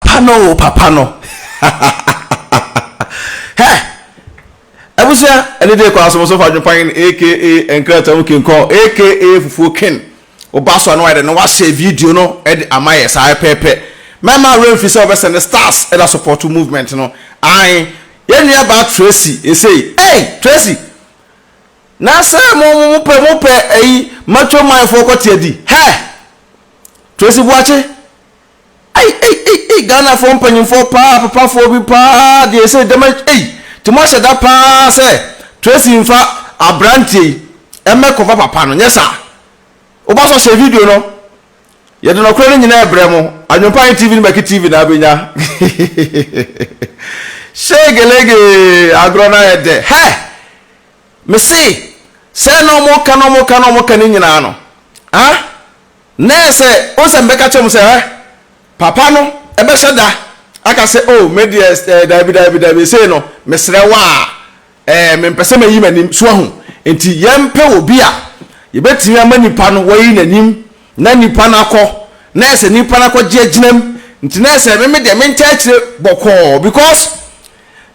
Pa no o papa no hɛ abusua ɛne de kɔ asomso fa dwopan aka nkrata mu king kɔ aka fufuo king woba so a na wayɛ dɛ na wahyɛ video no ɛde ama yɛ saa pɛpɛpɛ mɛma awura mfi sɛ wɔbɛsɛ ne stars ɛda support movement no ae yɛn nua baa tracy esei ei tracy na sɛ mo mo mo pɛ mo pɛ ɛyi matwa manfoɔ kɔte adi hɛ tracy buakye Ei ei ei ei Ghanafoɔ mpanyinfoɔ paa apapafoɔ bi paa deɛ sɛ dɛm ei ti mo ahyɛ da paa sɛ Tracy nfa abranteɛ yi ɛmɛ kɔfa papa no nyɛ saa woba so hyɛ video no yɛde nɔkorɛ no nyinaa ɛbrɛ mo adwempa yɛ TV no bɛki TV na abɛnya shegelege agorɔ no ayɛ dɛ hɛ me se sɛ na ɔmo ka na ɔmo ka na ɔmo ka ne nyinaa no ah Na ɛsɛ o sɛ mebɛka kyerɛ mo sɛ, Hwɛ, papa no bɛhyɛ da aka sɛ, O, me deɛ, eh, daabi, daabi, daabi, sei no, mesrɛ wo a, eh, mempɛ sɛ mayi m'anim, so ahu? Enti yɛmpɛ obi a yɛbɛtumi ama nipa no wayi n'anim, na nipa no akɔ, na ɛsɛ nipa no akɔgye agyina mu, nti na ɛsɛ me, me deɛ, mentaa akyire bɔkɔɔ, because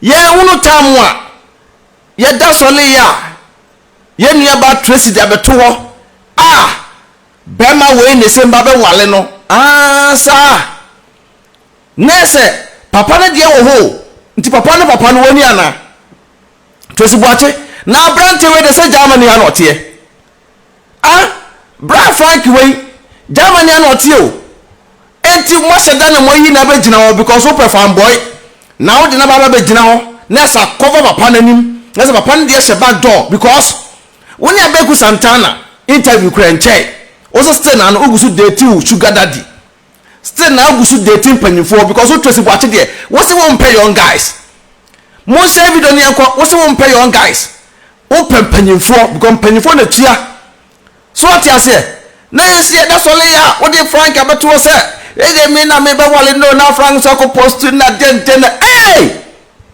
yɛn ho no taa mo a yɛda sɔle yɛ a. yɛn nua baa Tracy de abɛto hɔ a bɛɛma wei ne sɛ mba bɛ wale no aah saa nɛɛ sɛ papa no deɛ wɔ hɔ o nti papa no papa no wɔ ni anaa Tracy Boakye na abrante wei deɛ sɛ Germany ha na ɔteɛ ah bra Frank wei Germany ha na ɔteɛ o Enti moahyɛ da na moayi no abɛgyina hɔ because wopɛ fanboy na wode no aba abɛgyina hɔ na ɛsɛ akɔfa papa no anim na sɛ papa no deɛ hyɛ back door because wo ne Abeku Santana interview koraa nkyɛe wo so still na no wogu so date wo sugar daddy still na wogu so date mpanyimfoɔ because wo Tracy Boakye deɛ wo se wo mpɛ young guys monhyɛ video no yɛnkɔ wo se wo mpɛ young guys wopɛ mpanyimfoɔ because mpanyimfoɔ na tua So wate aseɛ? Na yɛn nso yɛda sɔre yɛ a wode frank abɛto hɔ sɛ ɛyɛ me na mebɛware no na frank nso akɔ post na dɛndɛn na ee!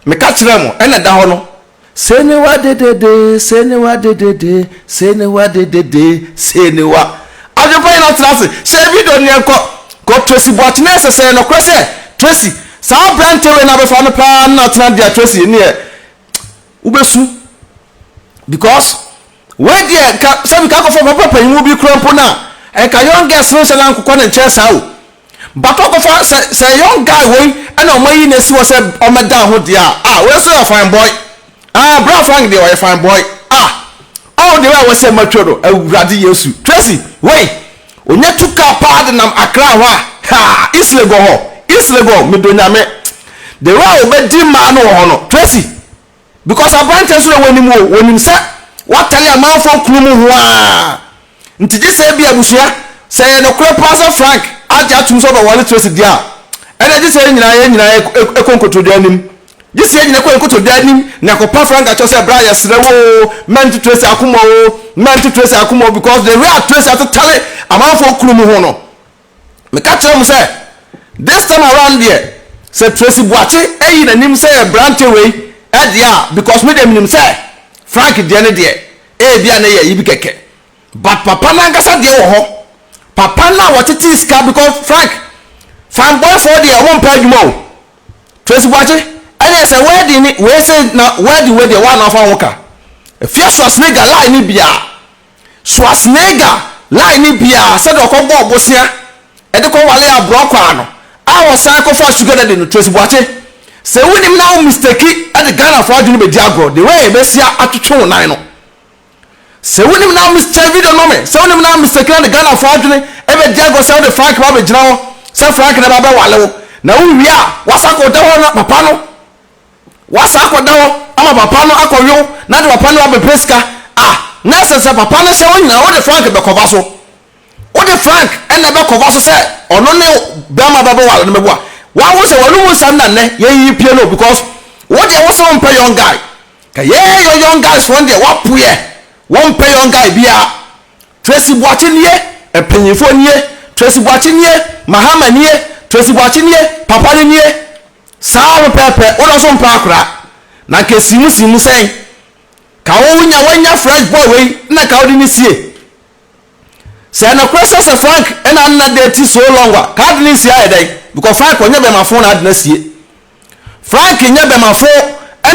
Meka kyerɛɛ mo ɛna ɛda hɔ no. Sei ne wa dedede, sei ne wa dedede, sei ne wa dedede, sei ne wa. Adwempa nyinaa tena ase, hyɛ video no yɛn kɔ. Kɔ Tracy Boakye na yɛ sɛ sɛ yɛ nɔkorɛ sɛ Tracy saa abrante wei na abɛfa no paa na atena deɛ Tracy ɛneɛ wobɛsu because Wei deɛ nka sɛ meka kɔfa papa panyimu bi koraa mpo no a nka young girls no nhyɛ no ankokɔ no nkyɛn saa o but wakɔfa sɛ sɛ young guy wei na wɔn ayi no asi hɔ sɛ ɔmmɛda ho deɛ a ah wei nso yɛ fine boy ah bra Frank deɛ ɔyɛ fine boy ah oh deɛ wei a wɔsɛ matwa no awurade yesu Tracy wei ɔnya tu kaa paa de nam Accra hɔ a ha East Legon hɔ East Legon medɔ nyame deɛ wei a ɔbɛdi mmaa no wɔ hɔ no Tracy Because aberanteɛ nso na ɛwɔ anim o, wɔnim sɛ watare amanfoɔ kunu mu ho ara nti gye sɛ ebia abusua, sɛ ɛyɛ nokorɛ paa sɛ Frank agye atom sɛ ɔbɛware Tracy deɛ a, ɛnna gye sɛ yɛn nyinaa yɛn nyinaa kɔ nkotodwe anim. Gye sɛ yɛn nyinaa kɔ nkotodwe anim na kɔpa Frank akyɛw sɛ, Bra, yɛsrɛ wo o, mma nto Tracy akoma o, mma nto Tracy akoma o, because the way a Tracy atetare amanfoɔ kunu mu ho no, Meka kyerɛɛ mo sɛ, this time around deɛ, sɛ Tracy Boakye ayi n'anim sɛ yɛ aberanteɛ wei deɛ a, because me deɛ menim sɛ Frank deɛ no deɛ, ebia ne yɛ yi bi kɛkɛ. But papa no ankasa deɛ wɔ hɔ. Papa no a wɔtetee sika because Frank, fanboyfoɔ deɛ wɔn mpɛ adwuma o. Tracy Boakye, ɛneɛ sɛ wedding ne wei sei na wedding wei deɛ woa na wofa wo ho ka. Efie soa snigger line ne biaa. Schwarzenegger line no bi ara sɛdeɛ ɔkɔbɔɔ bosea de kɔwaree aborɔkwaa no a ɔsan kɔfaa sugar daddy no Tracy Boakye sɛ wonim na wo mistake de Ghanafoɔ adwene bɛdi agorɔ the way bɛsia atwetwe wo nan no sɛ wonim na wo mis kyɛ video no ma me sɛ wonim na wo mistake na de Ghanafoɔ adwene bɛdi agorɔ sɛ wode Frank ba bɛgyina hɔ sɛ Frank na ɛba bɛwale wo na wowie a wasakɔ da hɔ na papa no Wɔasan akɔda hɔ ama papa no akɔyow na de papa no abɛpɛ sika a, na ɛsɛ sɛ papa no hyɛ wo nyinaa wode Frank bɛkɔva so. Wode Frank na ɛbɛkɔva so sɛ ɔno ne barima bɛbɛware no bɛboa. Woahu sɛ w'anom nsɛm na nnɛ yɛreyi pie no because wo deɛ wose wompɛ young guy. Ka yɛɛ yɔ young guys wɔn deɛ wɔapoeɛ, wɔmpɛ young guy biara. Tracy Boakye nie, mpanyinfoɔ nie, Tracy Boakye nie, Mahama nie, Tracy Boakye nie, papa no nie. Saa ara pɛpɛɛpɛ, wodɔ so mpa akora. Na nka esi mu si mu sɛn? Ka wo nya wanya fresh boy wei na ka wode no sie. Sɛ nokorɛ sɛ sɛ Frank na na date so long a, ka wode no nsie ayɛ dɛn? Because Frank ɔnyɛ bɛmafo na ade no asie. Frank nyɛ bɛmafo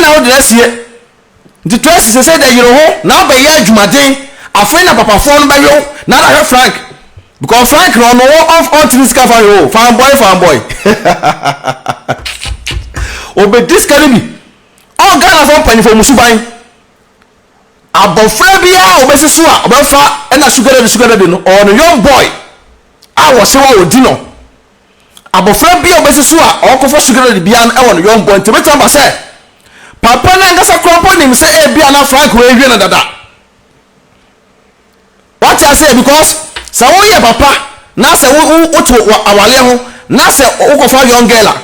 na wode no asie. Ntsi Tracy sesei dɛ yer ho na abɛyɛ edwumadzen, afei na papafoɔ no bɛwe wo na ada hwɛ Frank because Frank no ɔno ɔnf ɔnntse ne sika fa hwɛ o, fanboy fanboy hahahahaha Obedzi sika no bi, ɔɔ Ghanafoɔ mpanyimfoɔ mu suban, abɔfra biara a obesi so a ɔbɛfa na sugar daddy sugar daddy no ɔwɔ no young boy a wɔse wa odzi no, Abofra bi a obesi so a ɔrekɔfa sugar daddy biara no wɔ no yɔn bɔ, enti ebetumi aba sɛ papa no ankasa koraa mpo nim sɛ ebia na Frank rewie no dada. Wate ase? Because sɛ woyɛ papa na sɛ wo wo wote wɔ awaleɛ ho na sɛ wokɔfa young girl a,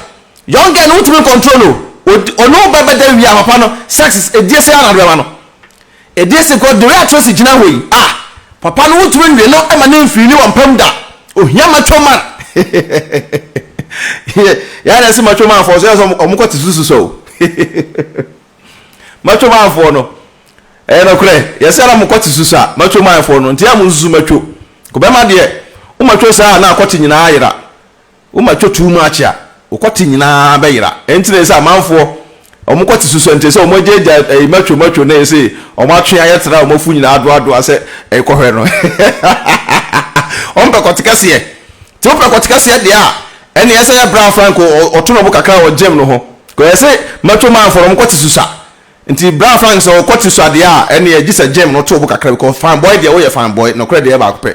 young girl no wotumi control o, ɔne wo bɛbɛda wie a papa no sex edie sɛ ara na de bɛma no. Edie se God de reato asi gyina hɔ yi ah Papa no wontumi nwe no ma no mfiri ne wampam da Ohia macho man yeah Yɛa na ɛse macho man foɔ so yɛsɛ ɔmo kɔ te susu so o Macho man foɔ no ɛyɛ nɔkorɛ yɛsɛ na mo kɔ te susu a macho man foɔ no nti yɛa mo nsusu macho Ko bɛma deɛ wo macho saa a na akɔ te nyinaa ayera Woma ɛtɔ too much a, wo kɔte nyinaa bɛyera. Enti na ɛsɛ sɛ amanfoɔ, wɔn kɔte susua nti, ɛsɛ sɛ wɔagyaagyaa macho macho no a ɛsɛ wɔn atwe ayɛ tra a wɔn afu nyinaa adoadoa sɛ ɛrekɔhwɛ no. Wɔmpɛ kɔte kɛseɛ. Nti wopɛ kɔte kɛseɛ deɛ a, ɛnneɛ ɛsɛ sɛ yɛ bra frank ɔto ne bo kakra wɔ gym no ho. Because ɛsɛ macho man foɔ no wɔn kɔte susua. Nti bra frank sɛ ɔkɔte sua deɛ a, ɛnneɛ gye sɛ gym no to wo bo kakra because fine boy deɛ woyɛ fine boy, nokorɛ deɛ ɛyɛ baako pɛ.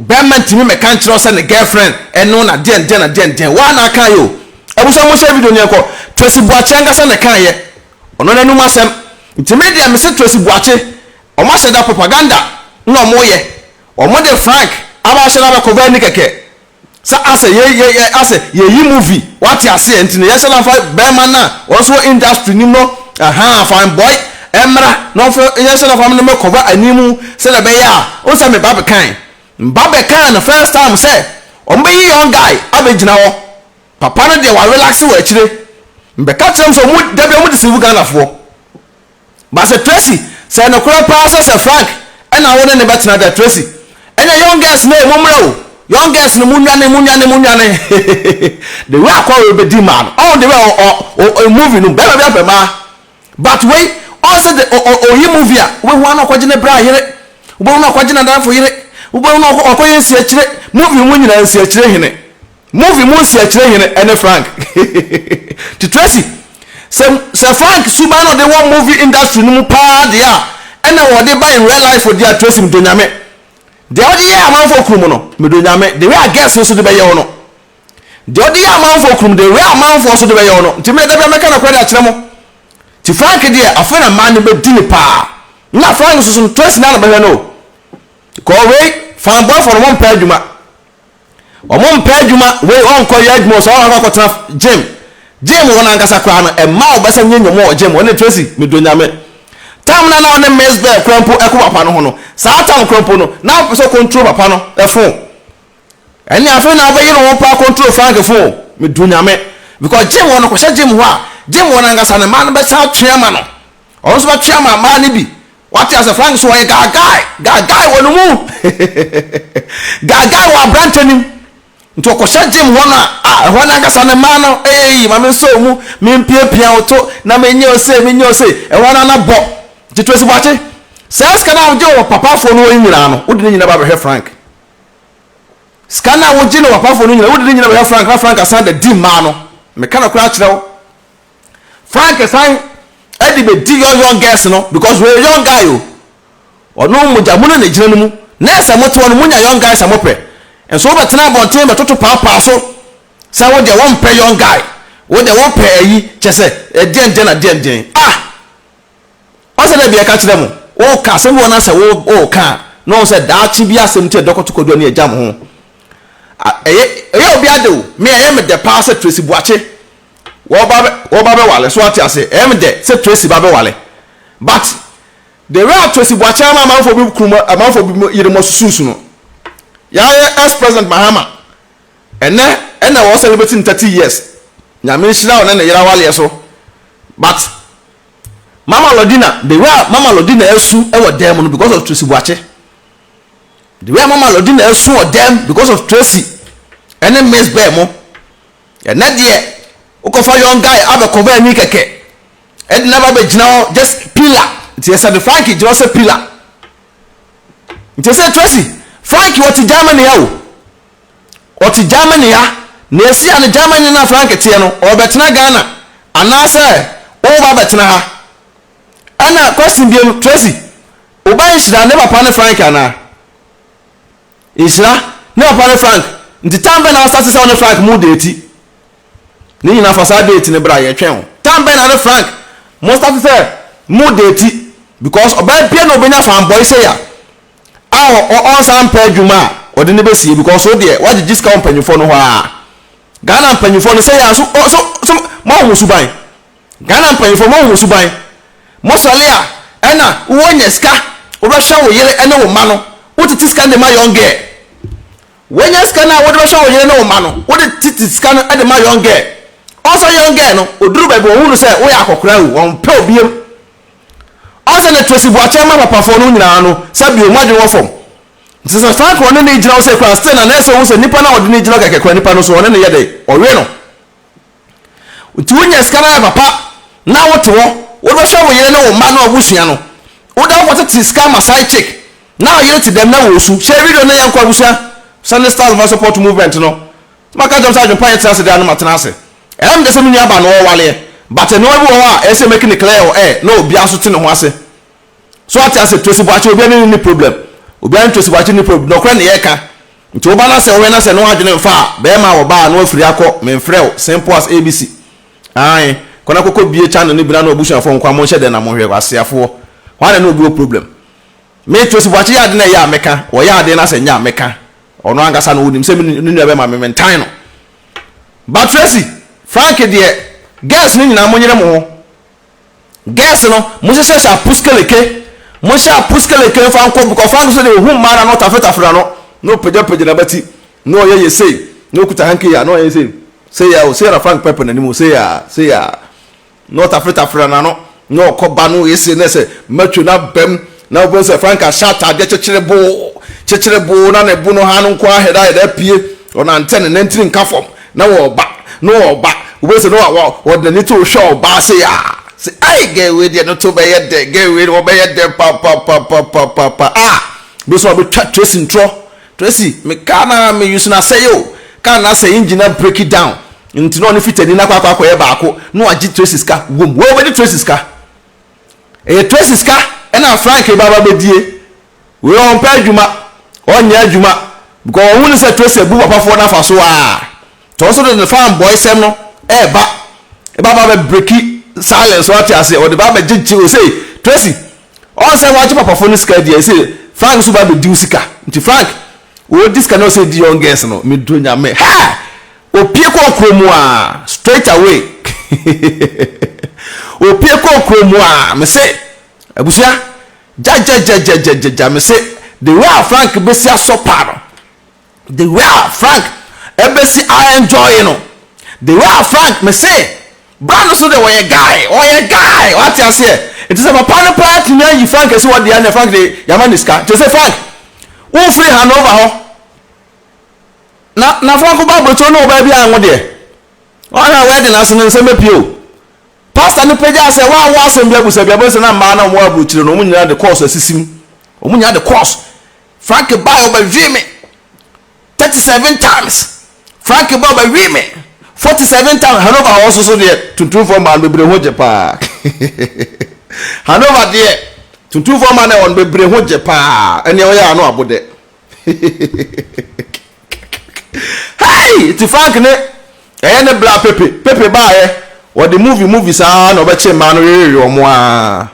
Bɛɛma ntumi mmɛka nkyerɛ wo sɛ ne girlfriend ɛne wo na deɛn deɛn na deɛn deɛn. Woaa na akaeɛ o. Abusua monhyɛ video no yɛnkɔ. Tracy Boakye ankasa na ɛkaeɛ. Ɔno n'anum asɛm. Nti me deɛ mese Tracy Boakye wɔn ahyɛ da propaganda na wɔn yɛ. Wɔn de Frank abɛahyɛ no abɛcover ani kɛkɛ. Sɛ asɛ yɛ yɛ yɛ asɛ yɛ yi movie wate aseɛ nti no yɛhyɛ no afa bɛɛma no a wɔn nso wɔ industry nim no ahaa fine boy ɛmmra na wɔnfa yɛhyɛ no afa no mɛ kɔva anim sɛdeɛ ɛbɛyɛ a wohu sɛ me ba bɛkae me ba bɛkae no first time sɛ wɔn bɛyi young guy abɛgyina hɔ papa no deɛ wa relaxe wɔ akyire me bɛka kyerɛ wɔn sɛ wɔn dabia wɔn deceive Ghanafoɔ. But sɛ Tracy, sɛ yɛ nokorɛ paa sɛ sɛ Frank ɛna wo ne no bɛtena dɛ Tracy, ɛneɛ young girls no ee mo mmerɛ o, young girls no mo nnwane, mo nnwane, mo nnwane hehehehe the way akɔre wei bɛdi mmaa no, ɔho the way ɔ ɔ ɔ ɔ movie no mu bɛɛma biara pɛ mmaa but wei ɔho sɛ the ɔ ɔ ɔ ɔyi movie a wobɛhu ara na ɔkɔgye ne bra yere, wobɛhu na ɔkɔgye nadamfo yere, wobɛhu na ɔkɔ ɔkɔyɛ nsiakyire, movie mu nyinaa nsiakyire hene. Movie mu nseɛkyerɛ hene ɛne Frank nti Tracy sɛ sɛ Frank suban na ɔde wɔ movie industry no mu paa deɛ a ɛna ɔde ba in real life deɛ a Tracy medɔ Nyame deɛ ɔde yɛ amanfoɔ krom no medɔ Nyame deɛ a girls nso de bɛyɛ wo no deɛ ɔde yɛ amanfoɔ krom deɛ a amanfoɔ nso de bɛyɛ wo no nti me dabia mɛka nɔkorɛ de akyerɛ mo nti Frank deɛ afei na mmaa no bɛdi no paa na Frank nso so no Tracy na na bɛhwɛ no o kɔɔ wei fanboyfoɔ no wɔmpɛ adwuma. Ɔmo mpɛ adwuma, wei ɔnkɔ yɛ adwuma o, sɛ ɔkɔ akɔtena gym, gym hɔ no ankasa koraa no ɛmma wo bɛsa nyɛ nyɔma wɔ gym hɔ, ne Tracy me dɔ Nyame tam no a na ɔne Miss Bell kora mpo ɛkɔ papa no ho no, saa tam kora mpo no na ɔpɛ sɛ ɔcontrol papa no phone, ɛnneɛ afei na ɔbɛyere wo mpo acontrol Frank phone o, me dɔ Nyame because gym hɔ no kɔhyɛ gym hɔ a, gym hɔ no ankasa no mmaa no bɛsa atwe ama no, ɔno nso bɛtwe ama mmaa no bi, Wate ase Frank so ɔyɛ gaagai gaagai wɔ ne mu gaagai wɔ aberantɛ nim nti ɔkɔhyɛ gym hɔ no a a ɛhɔ no ankasa ne mmaa no eyi ma mensɔ mu mempiapia wo to na menyɛ ose menyɛ ose ɛhɔ no ana bɔ nti Tracy Boakye saa sika no a wogye wɔ papafoɔ no hɔ yi nyinaa no wode ne nyinaa ba bɛhwɛ Frank sika no a wogye no wɔ papafoɔ no nyinaa wode ne nyinaa bɛhwɛ Frank na Frank asan da di mmaa no meka no koraa kyerɛ wo frank san ɛde bɛ di young young girls no because wɔyɛ young guy o ɔno mogya mu no na egyina no mu na ɛsɛ mo tewa no mo nya young guys a mo pɛ nso wobɛ tena abɔnten bɛ toto paapaa so sɛ wo deɛ wɔn pɛ young guy wo deɛ wo pɛ ayi kyɛ sɛ ɛdeɛn deɛn na deɛn deɛn ah ɔsɛ dɛ bi ɛka kyerɛ mo wo ka asɛm bi wɔn asɛ wo wo ka na wɔn sɛ daakye bi asɛm ti ɛdɔkɔto kodoɔ ne ɛgya mo ho ɛyɛ ɛyɛ obi ade o me ɛyɛ me dɛ paa sɛ tracy buakye Wo ba bɛ wo ba bɛwale so wate ase ɛyɛ me dɛ sɛ Tracy ba bɛwale but the way a Tracy Boakye ama amanfoɔ bi kunu mu amanfoɔ bi mu yere mu asusuusu no yɛayɛ ex president Mahama ɛnɛ ɛna wɔ celebrate ne thirty years nyame nhyira wo ne ne yere awaleɛ so but Mama Lodina the way a Mama Lodina asu ɛwɔ dan mu no because of Tracy Boakye the way a Mama Lodina asu wɔ dan mu because of Tracy ɛne Miss Bɛɛ mo. Ɛnɛ deɛ wokɔfa young guy abɛ cover ani kɛkɛ ɛde na ba bɛ gyina hɔ just pillar nti ɛsɛ de Frank gyina hɔ sɛ pillar nti ɛsɛ Tracy Frank wɔte Germany ya o wɔte Germany ya na ɛsi ya no Germany na Frank teɛ no ɔbɛtena Ghana anaasɛ woba bɛtena ha ɛna question biom Tracy wobɛ nhyira ne papa ne Frank anaa Nhyira, ne papa ne Frank nti tam bɛn na wasa te sɛ wo ne Frank mo deeti? Ne nyinaa fa saa date no bra yɛtwɛn wo. Tam bɛn na ne Frank mo starte sɛ mo deeti because ɔbaa biara na ɔbɛnya fanboy sei a a ɔnsan mpɛ adwuma a ɔde no bɛsie because wo deɛ woagyegye sika wɔ mpanyinfoɔ no hɔ aa. Ghana mpanyinfoɔ no sei a nso so moahu mo suban. Ghana mpanyinfoɔ mo ho suban mo sɔle a ɛna wowɔ nya sika wobɛhwɛ wo yere ne wo mma no wotete sika no de ma young girl wanya sika no a wode bɛhwɛ wo yere ne wo mma no wode tete sika no de ma young girl ɔsɛ young girl no oduru baabi wɔn hunu sɛ woyɛ akɔkora o wɔn pɛ obiem ɔsɛ ne Tracy Boakyɛ ma papafoɔ no nyinaa no sɛ bio mo adwene wɔ fam nti sɛ Frank ɔne ne gyina wo sɛ kora still na na ɛsɛ ohun sɛ nipa no a ɔde ne gyina kɛkɛ kora nipa no so ɔne ne yɛ dɛ ɔwe no. Nti wonya sika no ayɛ papa na wote hɔ wode bɛhwɛ wo yere ne wo mma ne w'abusua no woda hɔ tete sika ma side chick na wo yere te dɛm na wɔresu hyɛ video no na yɛnkɔ abusua Sunday stars mfa support movement no nti maka kyerɛ mo sɛ adwene pa yɛ tena ase daa no matena ase ɛm de sɛ me nua baa no ɔwaleɛ but nnoɔma bi wɔ hɔ a ɛsɛ make ne clear wɔ air na obiara nso te ne ho ase. So wate ase? Tracy Boakye, obiara ne no nni problem. Obiara ne Tracy Boakye nni problem. Nɔkorɛ na yɛreka. Nti wo ba no asɛ wohwɛ no asɛ ne w'adwene mfa a, bɛɛma a ɔba a na wafiri akɔ, menfrɛ wo, simple as ABC. Ae, kɔ na kɔkɔ bie channel no bi na ne w'abusuafoɔ nkoa monhyɛ dɛn na monhwɛ, aseafoɔ. Hwan na ne obi wɔ problem? Me, Tracy Boakye yɛ ade na ɛyɛ a mɛka, ɔyɛ ade na sɛ nyɛ a mɛka. Ɔno ankasa na ɔnim sɛ me ne nua bɛɛma me mentan no. But Tracy, Frank deɛ, girls no nyinaa monyere mo ho. Girls no monhyehyɛ hyɛ apuskeleke monhyɛ apuskeleke mfa nkɔ bkɔ ɔfa nso deɛ ɔhu mmaa no a na ɔtafetafere n'ano na ɔpagyapagya n'abati na ɔyɛ yɛ sei na ɔkuta hanky a na ɔyɛ sei sei a o sei a na Frank pɛpɛ n'anim o sei a sei a na ɔtafetafere n'ano na ɔkɔ ba no ese na ɛsɛ matwe no abam Na wobɛhu sɛ Franka hyɛ ataadeɛ kyekyereboo, kyekyereboo, na ne bo no ha no nko ara hɛdaa hɛdaa pue, ɔnantɛ, ne nantiri nka fam, na ɔreba, na ɔreba, wobɛhu sɛ na wa, wa, ɔde n'ani to wo hwɛ ɔbaa sei a, sɛ, Ai, girl wei deɛ ne to bɛyɛ dɛ, girl wei ɔbɛyɛ dɛ papapapapapa, ah, wobɛhu sɛ wabɛtwa Tracy ntorɔ, Tracy, me car no ara, me use no asɛe o, car no asɛe, engine no abreki down, nti na ɔne Fitani no akɔ akɔ akɔyɛ baako, na wagye Tracy sika, wom, wei wobɛgye Tracy sika. Ɛyɛ Tracy sika na Frank reba abɛbɛdie. Wei ɔmpɛ adwuma, ɔnyɛ adwuma because ɔhu no sɛ Tracy abu papafoɔ no afa so aa. Nti ɔno nso de ne fan boy sɛm no ɛɛba ɛba aba abɛ breaki silence so wate aseɛ ɔde ba abɛgyegye osei Tracy ɔn sɛ wagye papafoɔ no sika adi ɛsei Frank nso ba abɛdi wo sika nti Frank ɔɔdi sika na ɔsɛ di young girls no meduro nyame hɛɛ Opie kɔɔ kuro mu aa straight away opie kɔɔ kuro mu aa mese abusua gyagyagyagyagyagya mese the way a Frank besi asɔpa no the way a Frank ɛbesi a enjoy no the way a Frank mese bra no so de ɔyɛ guy ɔyɛ guy wate aseɛ nti sɛ papa no paa tumi ayi Frank asi hɔ deɛ ne Frank de yama ne sika nti se Frank wofiri Hanover hɔ. Na na Franco ba aburokyire ne ɔbaa biara ngo deɛ ɔhwɛ a wedding ase no nsɛm bɛpie o. Pastor no pagyaa sɛ woawɔ asɛm bi abusa bi a, wobɛhu sɛ na mmaa no a wɔwɔ aburokyire no wɔn nyinaa de kɔɔso asisim. Wɔn nyinaa de kɔɔso. Frank baeɛ ɔbɛwee me 37 times. Frank ba ɔbɛwee me 47 times. Hanover hɔ nso so deɛ tuntumfoɔ mmaa no bebree ho gye paa. Hanover deɛ tuntumfoɔ mmaa no ɛwɔ no bebree ho gye paa. Ɛnea ɔyɛ ano abo dɛ. Hey! Nti Frank ne ɛyɛ ne bra Pepe, Pepe baayɛ wɔde movie movie saa na ɔbɛkye mmaa no wewewe wɔn aa.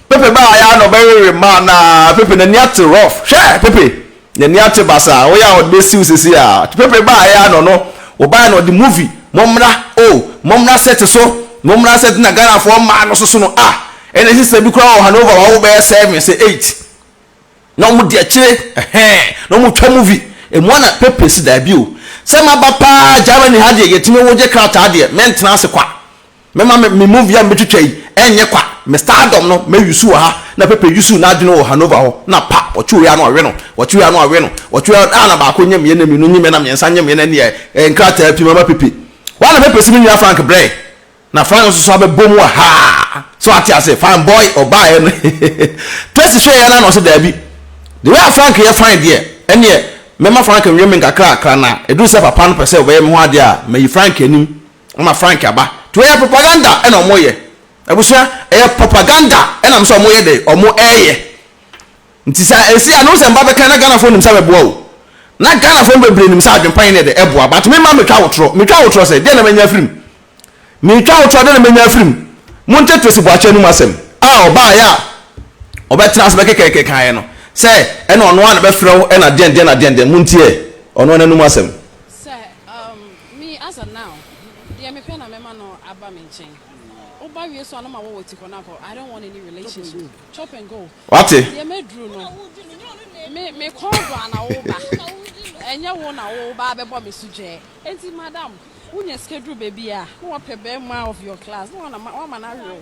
Pepe baayɛ a na ɔbɛwewe mmaa no aa, Pepe n'ani ate rough, hwɛ Pepe Nani ate basa a woyɛ a wɔde bɛsiw sese a Pepe baeɛ a na ɔno wɔbaeɛ na ɔde movie mommra o mommra set so mommra set na Ghanafoɔ mmaa no soso no ah Ɛna sister bi koraa wɔ Hanover wawo bɛyɛ seven sɛ eight na wɔde akyire ɛhɛn na wɔtwa movie ɛmu a na Pepe si daabi o sɛ maba paa Germany ha deɛ yɛtumi wogye krataa deɛ mentena ase kwa Mɛma me me movie a mebɛtwitwa yi ɛnyɛ kwa, me stardom no mɛ use wɔ ha na Pepe use n'adwene wɔ Hanover hɔ na pa, wɔtwe wei a na wɔwe no, wɔtwe wei a na wɔwe no, wɔtwe wei a na baako nyɛ mmiɛ na mmienu nyɛ mmiɛ na mmiɛnsa nyɛ mmiɛ na ɛnneɛ ɛɛ nkrataa pii mɛma Pepe. Why na Pepe se me nua Frank brɛ na Frank nso so abɛbɔ mu wɔ ha so wate ase, fine boy ɔbaeɛ no Tracy hwɛeɛ no a na ɔse daabi the way a Frank yɛ fine deɛ ɛnneɛ mɛma Frank nwe me nkakra kra na ɛduru sɛ papa no pɛ sɛ ɔbɛyɛ me ho adeɛ a mayi Frank anim Ama Frank aba nti ɛyɛ propaganda ɛna ɔmo yɛ abusua ɛyɛ propaganda ɛnam sɛ ɔmo yɛ dɛ ɔmo ɛyɛ nti sɛ ɛsi ano sɛ mba bɛka na Ghana fo nim sɛ bɛboa o na Ghana fo no bebree nim sɛ adwenpa yɛ ne dɛ ɛboa but me ma me twa wo torɔ me twa wo torɔ sɛ deɛ na mɛnya afirim me twa wo torɔ deɛ na mɛnya afirim mo nte Tracy Boakye anum asɛm a ɔbaa yɛ a ɔbɛ tena ase bɛ kɛkɛɛkɛ kan yɛ no sɛ ɛna ɔno a na bɛ frɛ wo ɛna deɛn deɛn na deɛn deɛn mo ntie ɔno anum asɛm. Me Asa now deɛ mepɛ na mɛma no aba me nkyɛn woba wie so a no ma wɔ wɔ ti hɔ no akɔ I don't want any relationship chop and go Wate? deɛ maduru no me me kɔn do a na woba ɛnyɛ wo na woba abɛbɔ me so dwɛɛ enti madam wonya sika duru baabi a na wapɛ bɛɛma of your class na wama no awe wo.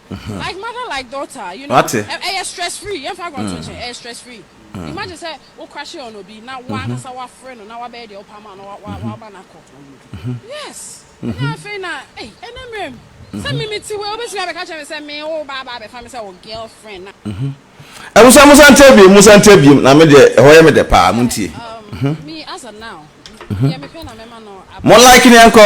Wate? Abusuafo mo nsa nkyɛ biem, mo nsa nkyɛ biem, na me deɛ ɛhɔ yɛ me dɛ paa, mo ntie. Mo like ne ɛnkɔ.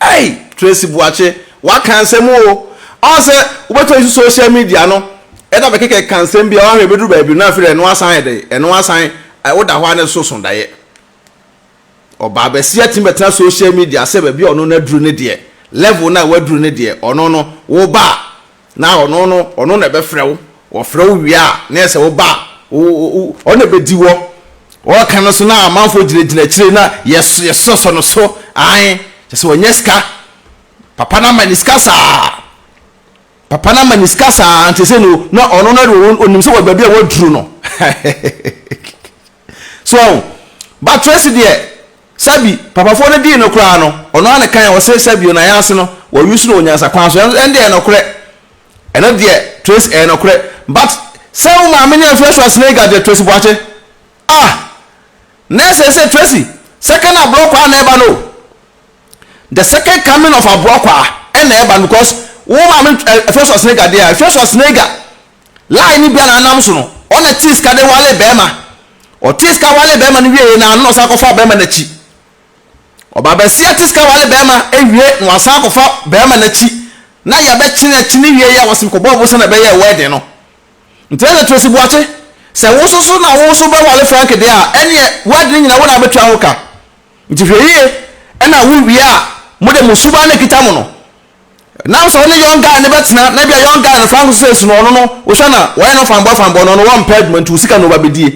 Ei! Tracy Boakye, waka nsɛm o! Ɔn sɛ wobɛtɔ isu social media no na bɛkekɛ ka nsɛm bi a, ɔahwɛ ɛbɛduru baabi no na afei deɛ ɛno asan ayɛ dɛn? Ɛno asan, woda hɔ a ne so so daeɛ. Ɔbaa bɛseɛ atumi bɛtena social media sɛ baabi a ɔno no aduru ne deɛ, level no a waduru ne deɛ, ɔno no, woba a, Na ɔno no, ɔno na ɛbɛfrɛ wo, ɔfrɛ wo wie a, na ɛsɛ wo ba a, ɔno na ɛbɛdi wɔ, ɔɔka no so na amanfoɔ gyinagyina akyire na yɛsosɔ no so, ae, kyɛ sɛ ɔnyɛ sika, papa no ama ne sika saa, papa no ama ne sika saa, nti sɛ no, na ɔno no deɛ ɔnim sɛ wɔ baabi a waduru no, So ɔho? But Tracy deɛ sɛbi papafoɔ no dii no koraa no ɔno ara ne kan ɔse sɛbi o na yɛn ase no wɔ use no wɔ nyansa kwan so ɛno deɛ ɛnokorɛ ɛno deɛ Tracy ɛyɛ nokorɛ but sɛ wo maame ne afia so asene ga deɛ Tracy Boakye ah na ɛsɛ sɛ Tracy second aborɔkwaa na ɛba no the second coming of aborɔkwaa ɛna ɛba no because wo maame afia so asene ga deɛ afia so asene ga Lie ne bia na anam so no ɔna tee sika de wale bɛɛma ɔtee sika wale bɛɛma no wiee na ano na ɔsan kɔfaa bɛɛma nakyi ɔbabasia te sika wale bɛɛma ewie na wasan akɔfa bɛɛma nakyi na yɛbɛkyene akyene wie yɛ wɔsem kɔbɔ ɔbosa na ɛbɛyɛɛ wɛɛden no nti ɛna Tracy Boakye sɛ wo soso na wo so bɛwale Frank deɛ a ɛneɛ wɛɛden nyina wo na abɛtua ho ka nti hwɛ yie ɛna wo wie a mode mo suban no akita mo no Now sɛ ɔne young guy no bɛtena na ebia young guy no frank so sɛ esi no ɔno no wohwɛ no a wɔyɛ no fanboy fanboy no ɔno wɔmpɛ adwuma nti wo sika na ɔba bɛdie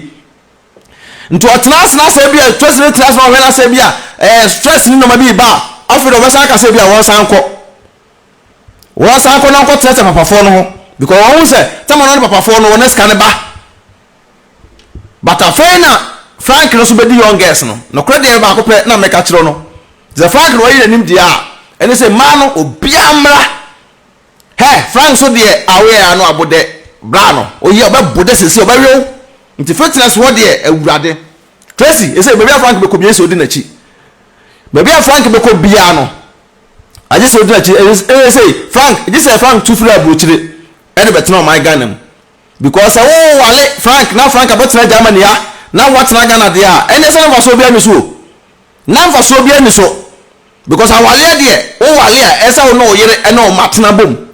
nti ɔtena ase na sɛ ebia stress no tena ase na ɔhwɛ na sɛ ebia ɛɛ eh, stress ne nneɛma bi reba a afei de ɔbɛsan aka sɛ ebia wɔnsan kɔ wɔnsan kɔ na ɔnkɔtena sɛ papafoɔ no ho because wɔn ho sɛ tɛma no ne papafoɔ no wɔn sika no ba But afei na Frank no so bedi young girls no. Nokorɛ deɛ baako pɛ na mɛka akyerɛ wo no, te sɛ Frank no wayi n'anim deɛ a, ɛne sɛ mmaa no obiara mmra. Hɛ, Frank so deɛ a woyɛ ara no abo dɛ, bra no, oyɛ, ɔbɛbo dɛ seesei, ɔbɛwe wo. Nti fitness hɔ deɛ, Awurade. Tracy, ɛsei baabi a Frank bɛkɔ biara ɛsɛ sɛ odi n'akyi. Baabi a Frank bɛkɔ biara no, agye sɛ odi n'akyi. Ɛsɛ, ɛsei, Frank, gye sɛ Frank tu firi aburokyire ɛde bɛtena ɔman Ghana mu. Because sɛ wo wale Frank na Frank abɛtena Germany a na wo atena Ghana deɛ a ɛnneɛ sɛ na mfasoɔ biara nni so o. Na mfasoɔ biara nni so because awaleɛ deɛ wo wale a ɛsɛ sɛ wo ne wo yere ne wo mma tena bom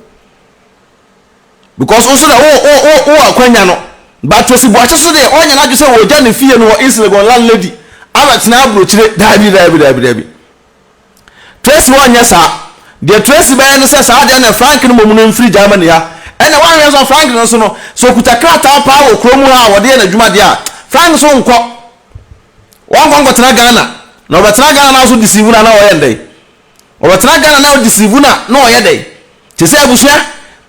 because wo nso deɛ wo wo wo wɔ akwanya no but Tracy Boakye nso deɛ ɔnyɛ n'adwene sɛ ɔregya ne fie no wɔ East Legon landlady abɛtena aburokyire daabi daabi daabi daabi. Tracy wɔnyɛ saa. Deɛ Tracy bɛyɛ ne sɛ saa deɛ na Frank no mmom no mfiri Germany ha. Ɛnna woanhwɛ nso a Frank no nso no, sɛ ɔkuta krataa paa wɔ kurom ha a wɔde yɛ n'adwuma deɛ a, Frank nso nkɔ. Wɔnkɔ nkɔtena Ghana. Na ɔbɛtena Ghana na nso deceive no a na ɔyɛ no dɛn? Ɔbɛtena Ghana na ɔdeceive no a na ɔyɛ dɛn? Te sɛ abusua,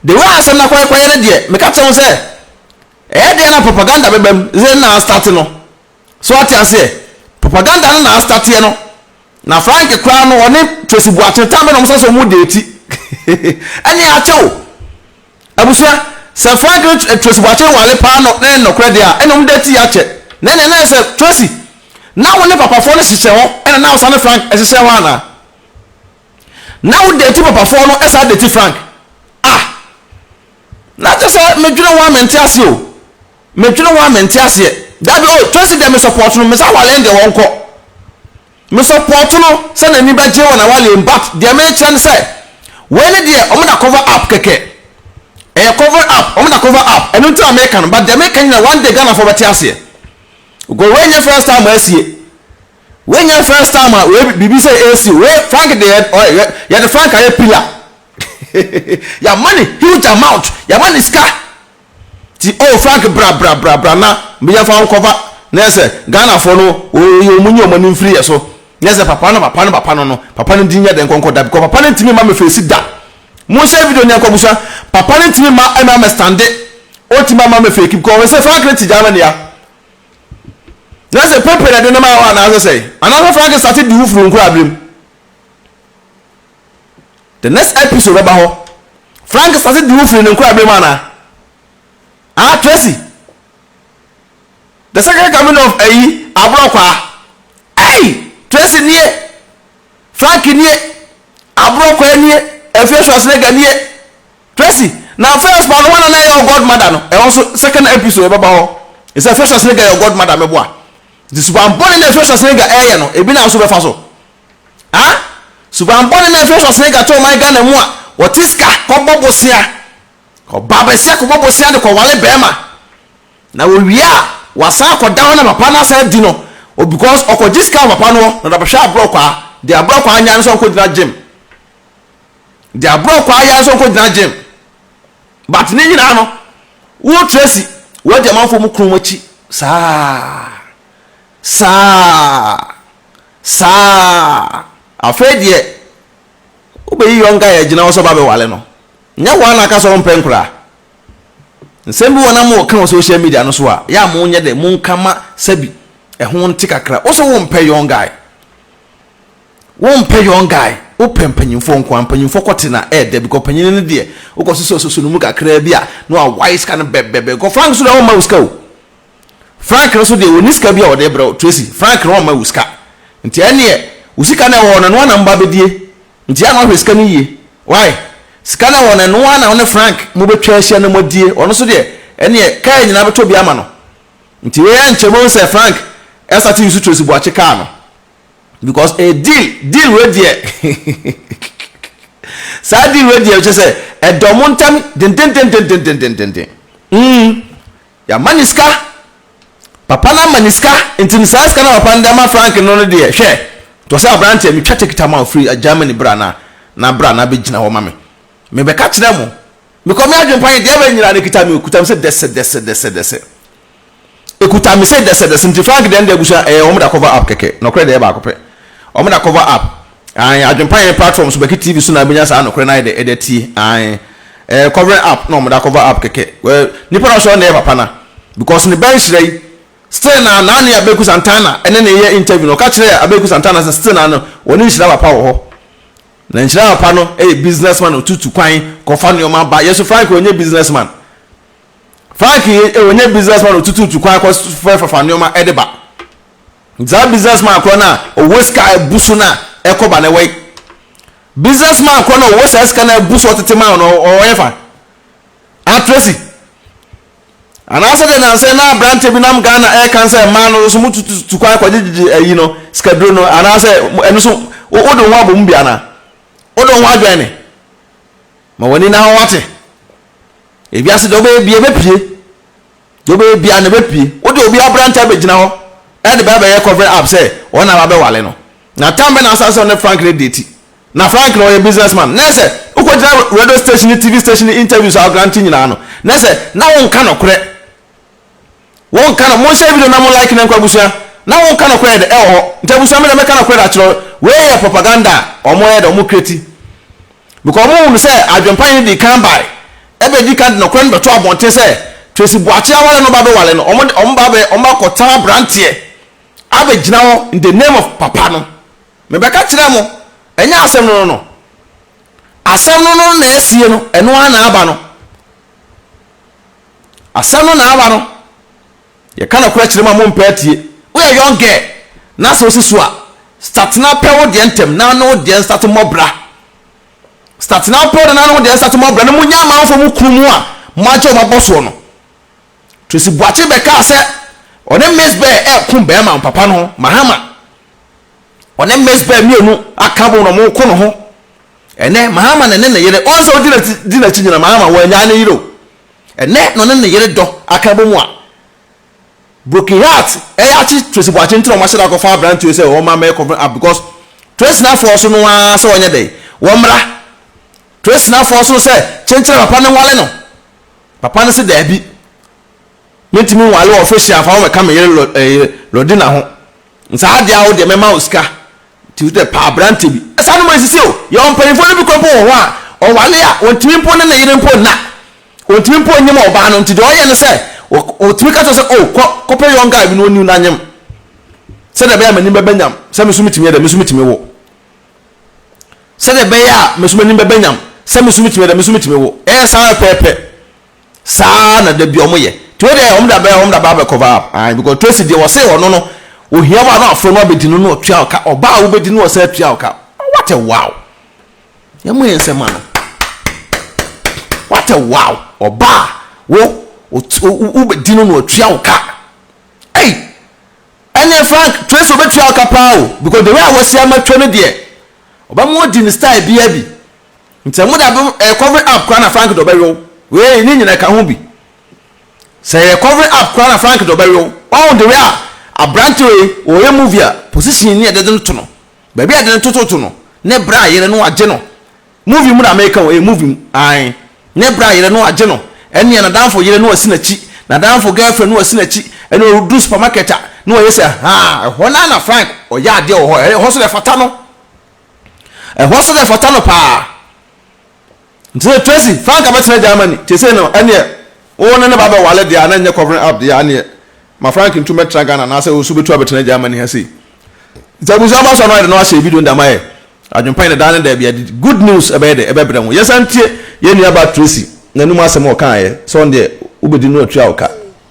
the way a asɛm no akɔyɛkɔyɛ no deɛ, meka kyerɛ wo sɛ, ɛyɛ deɛ na propaganda bɛbam dze na astarte no. So wate aseɛ? Propaganda no na astateɛ no. Na Frank koraa no, ɔne Tracy Boakye Tambe na wɔn sɛ sɛ wɔn deeti. Ɛne akyɛ o. Abusua, sɛ Frank ne eh, Tracy Boakye wale paa no, ne nnɔkorɛ deɛ a, ɛne wɔn deeti yɛ akyɛ. Na ɛne ɛnɛ sɛ Tracy, na wo ne papafoɔ no hyehyɛ hɔ, ɛna na ɔsa ne Frank ɛhyehyɛ hɔ anaa? Na wo deeti papafoɔ no, ɛsa deeti Frank. Ah! Na kyɛ sɛ medwene ho a mente ase o. Me dwene ho a me nte aseɛ. Dabi oh Tracy deɛ me support no me sɛ awaleɛ no deɛ wɔn kɔ me support no sɛ n'ani bɛ gye wɔ n'awaleɛ mu but deɛ me kyerɛ no sɛ wei ne deɛ wɔn da cover up kɛkɛ ɛyɛ cover up wɔn da cover up ɛno nti na me ka no but deɛ me ka nyina one day Ghana foɔ bɛ te aseɛ go wei nyɛ first time asie wei nyɛ first time a wei biribi sɛ ɛsi wei Frank deɛ ɔyɛ yɛde Frank ayɛ pillar yɛ ama ne huge amount yɛ ama ne sika. Nti oh Frank bra bra bra bra na yɛmfa wo nkɔfa na yɛ sɛ Ghanafoɔ no wɔyɛ wɔn nyi wɔn ani mfiri yɛ so na yɛ sɛ papa no papa no papa no no papa no din nyɛ dɛn nkɔnkɔ da because papa no ntumi mma me face da Monhyɛ video no yɛnkɔ abusua papa no ntumi mma ɛmɛ ama stande ɔntumi ama me fake because ɔwɔ sɛ Frank no te Germany a na sɛ pepe na ɛde no maa hɔ anaasɛ sɛ anaasɛ Frank starte di wo funu nkura abirem The next episode bɛba hɔ. Frank sase di wo firi ne nkorabere mu anaa? Ah Tracy! The second coming of ayi aborɔkwaa. Ei! Tracy nie! Frank nie! Aborɔkwaa nie! Afie Schwarzenegger nie! Tracy! Na first ba no hwan na na ɛyɛ godmother no? Ɛhɔ nso second episode bɛba hɔ. Ɛsɛ Afie Schwarzenegger yɛ godmother meboa. Nti suban bɔne na Afie Schwarzenegger ɛɛyɛ no ebi na nso bɛfa so. Ah! Suban bɔne na ɛfiri Schwarzenegger to ɔman Ghana mu a wɔte sika kɔbɔ bosea. Ɔbaa basia kɔbɔ bosea de kɔwale barima. Na wɔwie a wɔasan akɔda hɔ na papa no asan adi no o because ɔkɔgye sika wɔ papa no hɔ na ɔde abɛhwɛ aborɔkwaa. Deɛ aborɔkwaa nya no sɛ ɔnkɔgyina gym. Deɛ aborɔkwaa ya no sɛ ɔnkɔgyina gym. But ne nyinaa no, wo Tracy woadi amanfoɔ mu kunu mu akyi saa. Saa. saa a, afei deɛ wobɛyi yɔnka a ɛgyina hɔ sɛ wobɛbɛware no. Nyɛ hɔ ara na aka sɛ wompɛ nkwadaa. Nsɛm bi wɔ hɔ na moka wɔ social media no so a, yɛ a monyɛ dɛ, monka ma sɛbi ɛho nte kakra. Wose wompɛ young guy, wompɛ young guy, wopɛ mpanyimfoɔ nko ara. Mpanyimfoɔ kɔ te na ɛyɛ dɛ because panyin no deɛ, wokɔsosɔsosɔ ne mu kakraa bi a, na wawae sika no bɛbɛbɛ. Kɔfrank nso deɛ, ɔremma wo sika o. Frank no so deɛ ɔnni sika bi a ɔde brɛ wo Tracy, Frank no ɔmma wo sika nti ɛnneɛ wo sika no a ɛwɔ hɔ no ɛno ara na mo ba bɛdie nti yɛ a na wahwɛ sika no yie wai? Sika no a ɛwɔ hɔ no ɛno ara na wo ne Frank mobɛtwa ahyia na moadie ɔno nso deɛ ɛnneɛ kaa nyinaa bɛtɔ bi ama no nti wei ɛnkyɛ mobɛhu sɛ Frank asate use Tracy Boakye kaa no because ɛyɛ deal, deal wei deɛ saa deal wei deɛ kyerɛ sɛ ɛdɔ mo ntam dendendendendendendenden mm Yama no sika, papa no ama no sika, nti no saa sika no a papa no de ama Frank no no deɛ hwɛ, to sɛ aberanteɛ metwa ticket ama wo firi Germany bra na na bra na bɛgyina hɔ ma me, mebɛka kyerɛ mo, mekɔ me adwempa he deɛ bɛn nyinaa no ɛkita me o, ɛkuta me sɛ dɛsɛ dɛsɛ dɛsɛ dɛsɛ, ɛkuta me sɛ dɛsɛ dɛsɛ, nti Frank deɛ no deɛ abusua ɛyɛ wɔn da cover up kɛkɛ, nɔkorɛ deɛ ɛyɛ baako pɛ, wɔn da cover up, Ae, Adwempa hɛn platform so bɛkye TV so na ebenya saa nokorɛ no ayɛ dɛ edze atsie. Ae, ɛyɛ covering up na wɔdze akɔver up kɛkɛ. Well, nyimpa no a ɔsɔr no na ɛyɛ papa no a, because ne ba nhyira yi, still na na nye Abeku Santana ne no reyɛ interview na ɔka kyerɛɛ Abeku Santana sɛ still na no hɔn nhyira papa wɔ hɔ. Na nhyira papa no yɛ business man a otutu kwan kɔfa nneɛma ba. Yɛ so Frank ɔnnyɛ business man. Frank ɔnnyɛ business man a otututu kwan kɔfrɛfrɛfa nneɛma de ba. Dza business man korɔ no a ɔwɔ sika a ebu so no a ɛkɔ ba no wɔ yi. Business man korɔ no a ɔwɔ saa sika no a ebu so ɔtsetse man no ɔwɔ yɛfa? Atresi? Anaasɛ dɛ nansɛ na aberantsɛ bi nam Ghana ɛɛka nsɛ man no so mo tu kwan kɔ gyegyegye ayi no, sikaduro no, anaasɛ ɛno so wo wode wo ho abɔ mu bi anaa? Wode wo ho adwɛn ne? Ma w'ani na hɔ wate. Ewiase dɛ wobɛyɛ bia ɛbɛpie. Deɛ ɔbɛyɛ biara no bɛpue. Wo deɛ obi abra nta bɛgyina hɔ de bɛ abɛyɛ cover up sɛ wɔn na wabɛwale no. Na tam bɛn na asan sɛ ɔne Frank no deti? Na Frank no ɔyɛ business man. Na ɛsɛ wokɔgyina radio station ne TV station ne interviews a ɔgrante nyinaa no na ɛsɛ na wonka nokorɛ. Wonka no, monhyɛ video na mo like no nkɔ abusua. Na wonka nokorɛ de ɛwɔ hɔ. Nti abusua me deɛ mɛka nokorɛ de akyerɛ. Wei yɛ propaganda a wɔyɛ de wɔn create Because ɔmo hu no sɛ adwempa nye no dii kan bae, ɛbɛdi kan de nɔkorɛ no bɛto abɔnten sɛ Tracy Boakye aware no ba bɛware no, ɔmo de ɔmo ba bɛ ɔmo akɔ tan abranteɛ abɛ gyina hɔ in the name of papa no. Me bɛka kyerɛɛ mo, ɛnyɛ asɛm no no no. Asɛm no no na asie no, ɛno ara na aba no. Asɛm no na aba no. Yɛka nɔkorɛ kyerɛ mo a mompɛ atie. Woyɛ young girl na sɛ wosi so a, start na pɛ wo deɛ ntɛm na ne wo deɛ nsate mmɔ bra. Start na pɛ wo deɛ na ne wo deɛ nsate mmɔ bra na monnya amanfoɔ mo kunu mu a moagye wɔn abɔ soɔ no. Tracy Boakye bɛkaa sɛ ɔne Miss Bɛ reko bɛrima papa no ho, Mahama. Ɔne Miss Bɛ mmienu aka abom na wɔreko ne ho. Ɛnnɛ, Mahama na ɛne ne yere. Wɔn sɛ wodi n'akyi nyina, Mahama, wannyaa ne yere o. Ɛnnɛ na ɔne ne yere dɔ aka abɔ mu a broken heart ɛyɛ akye Tracy Boakye nti na wɔahyɛ da akɔfa abranteɛ sɛ wɔma mɛ kɔfrɛ ab because Tracy na force no ara sɛ wɔnyɛ dɛn wɔmmra Tracy na force no sɛ kyenkyerɛ papa no nwale no papa no se daabi mentumi nwale wɔ official fa wɔmɛka me yere lɔ ɛɛ Lɔdina ho Nsa ade a wo deɛ mɛma wo sika nti wo deɛ pɛ aberante bi. Saa nneɛma nsisi o. Yɛwɔ mpanyinfoɔ no bi kura mpo wɔ hɔ a ɔwale a ɔntumi mpo ne ne yere mpo nna. Ɔntumi mpo nyem ɔbaa no nti deɛ ɔyɛ ne sɛ ɔtumi ka kyerɛ sɛ oh kɔ kɔpɛ young guy bi na ɔniw na nyem sɛdeɛ ɛbɛyɛ a m'anim bɛbɛ nyam sɛ me nso metumi yɛ dɛ me nso metumi wo. Sɛdeɛ ɛbɛyɛ a me nso m'anim bɛbɛ nyam sɛ me nso metumi yɛ dɛ me nso metumi wo. Ɛyɛ saa ara pɛɛpɛ. saa na da bi ɔmo yɛ nti wo deɛ ɔmo da bɛ ɔmo da bɛ abɛkɔ va ae because Tracy deɛ ɔse ɔno no ohia wo a na wafrɛ no abɛdi no na ɔtua wo ka ɔba a wobɛdi no ɔsan atua wo ka what a wow yɛ mo yɛ nsɛm ma no what a wow ɔba a wo wobɛdi no na ɔtua wo ka ei ɛneɛ Frank Tracy ɔbɛtua wo ka paa o because the way a wɔsi ama twa no deɛ ɔbɛma ɔdi ne style biara bi Nti ɛmu da bom ɛyɛ covering up koraa na Frank de ɔbɛwe wo. Wei ne nyina ɛka ho bi. Sɛ ɛyɛ covering up koraa na Frank de ɔbɛwe wo. Ɔho de wei a abrante wei ɔyɛ movie a position ne ɛdede no to no. Baabi a ɛde no toto to no ne berɛ a yere no agye no. Movie mu na meka o ɛyɛ movie mu ae. Ne berɛ a yere no agye no ɛneɛ nadamfo yere no asi n'akyi, nadamfo girlfriend no asi n'akyi ɛne ɔreduru supermarket a ne wayɛ sɛ haa ɛhɔ no ara na Frank ɔyɛ adeɛ wɔ hɔ ɛhɔ so na ɛfata no. Ɛhɔ so na ɛfata no paa. Nti sɛ Tracy fa anka bɛtena Germany te sei no ɛneɛ wo ne ne ba bɛwale deɛ a na nyɛ covering up deɛ aneɛ ma Frank ntu mɛtra Ghana anaasɛ osu bɛtu abɛtena Germany ha sei. Nti abusua ba so ano ayɛ de na wahyɛ video no de ama yɛ. Adwempa yɛ ne daa ne daabi ade good news ɛbɛyɛ dɛ ɛbɛbrɛ ho. Yɛnsan tie yɛn nua ba Tracy n'anum asɛm a ɔkaeɛ sɛ ɔno deɛ wobɛdi no atua wo ka.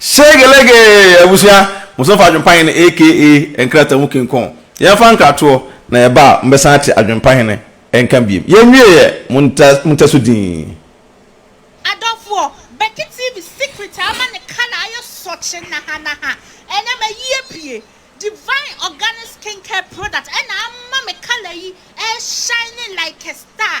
Shegelege! Abusua, mo nso fa Adwempahene aka nkrataa mu kinkɔn. Yɛmfa nkratoɔ na yɛba a, mobɛsan ate Adwempahene nka biom. Yɛnwieɛ, montɛ so dinn. Adɔfoɔ, Becky TV secret a ama ne colour ayɛ sɔkye naha naha ɛnɛ mayi apue. Divine Organic Skincare product ɛna ama me colour yi ɛɛ shine like a star.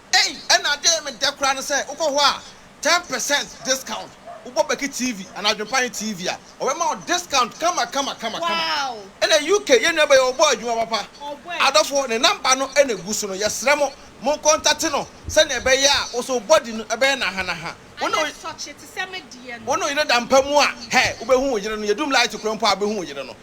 Ei ɛna adee me dɛ koraa ne sɛ wokɔ hɔ a ten percent discount wobɔ bɛki TV anaa adwenpanye TV a ɔbɛma wo discount kama kama kama kama ɛna UK yɛn nua bɛyɛ ɔbɔ adwuma papa adɔfoɔ ne number no na egu so no yɛsrɛ mo mo kɔntate no sɛnea ɛbɛyɛ a wo so wo body no ɛbɛyɛ naha naha wo ne wo yere da mpa mu a hɛ wobɛhu wo yere no yɛdum light korɔ mpo a wobɛhu wo yere no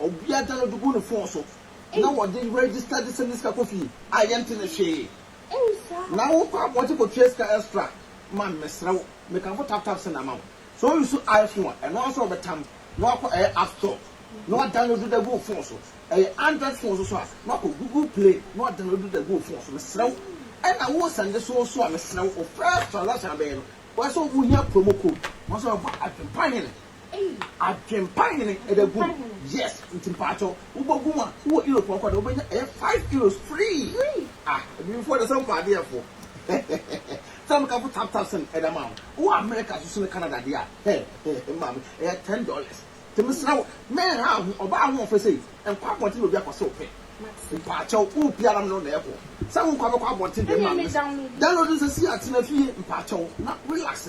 Ɔbea gya no de gu ne fon so na wɔde register de send ne sika kɔ fie a yɛnte ne hwee. Na wo kɔ abɔnten kɔ tua sika extra ma me mesrɛ wo. Me kamfo tap tap send ama wo. Sɛ wo use iPhone a ɛno ara nso wɔbɛtam na wakɔ ɛyɛ app store na wa download de agu wo fon so. Ɛyɛ Android fon so nso a na wakɔ Google play na wa download de agu wo fon so mesrɛ wo. Ɛna wo send so nso a mesrɛ wo wo first transaction a bɛyɛ no wɔ sɛ wo hia promo code. Wɔn nso wɔfa adwempa hene Adwempa hene ɛbɛgu mu yes nti mpakyɛw wobɛgu mu a wowɔ Europe hɔ kɔda wobɛnya ɛyɛ five euros free ah adwemfoɔ deɛ sɛ mopɛ adeɛ fo sɛ meka fo tap tap send ɛda ma wo wowɔ America so so ne Canada deɛ a hɛ maame ɛyɛ ten dollars nti mesrɛ wo menha wo ho ɔbaa ahoɔfɛ sei nkɔ abɔnten na obi akɔ sɛ ɔpɛ mpakyɛw wopɛ ara me ne wo na ɛkɔ sɛ wonkɔ abɛkɔ abɔnten deɛ maame download no sɛsi a tena fie mpakyɛw na relax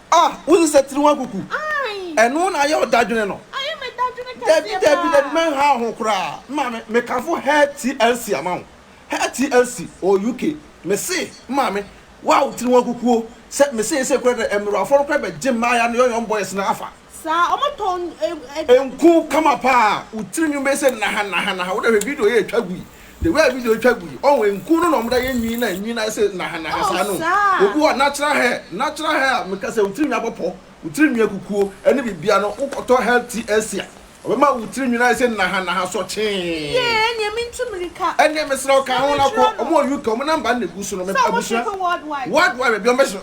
Ah! Wo sesɛ tiri ho akuku. Ɛno na ayɛ wo dadwene no. Dabi dabi dabi mɛnhaw ho koraa. Maame, mekamfo Herr TLC ama wo. Herr TLC wɔ UK. Mese, Maame, wo a wo tiri ho akuku o, sɛ me seesei koraa dɛ mmerewafo no koraa bɛgye mmaaya no yɔyɔm boys no afa. Saa, ɔmo tɔn. Nku kama paa, wo tiri nwin bɛyɛ sɛ nnaha nnaha nnaha, wo dɛ hwɛ video yi a etwa gu yi. the way a video yi twa gu yi ɔn nku no na ɔmo da yɛ nwii na nwii na ayɛ sɛ nahanaha saa no obi wɔ natural hair natural hair a meka sɛ wo tirinwi abɔ pɔ wo tirinwi akukuo ɛne bibia no wo kɔtɔ hair TLC a ɔbɛma wo tirinwi no ayɛ sɛ nahanaha sɔkyee Yee ɛneɛ mentu mirika ɛneɛ mesrɛ wo ka ho na kɔ ɔmo wɔ UK ɔmo number no na egu so no mepɛ abusua world wide baabi ɔmo bɛhyɛ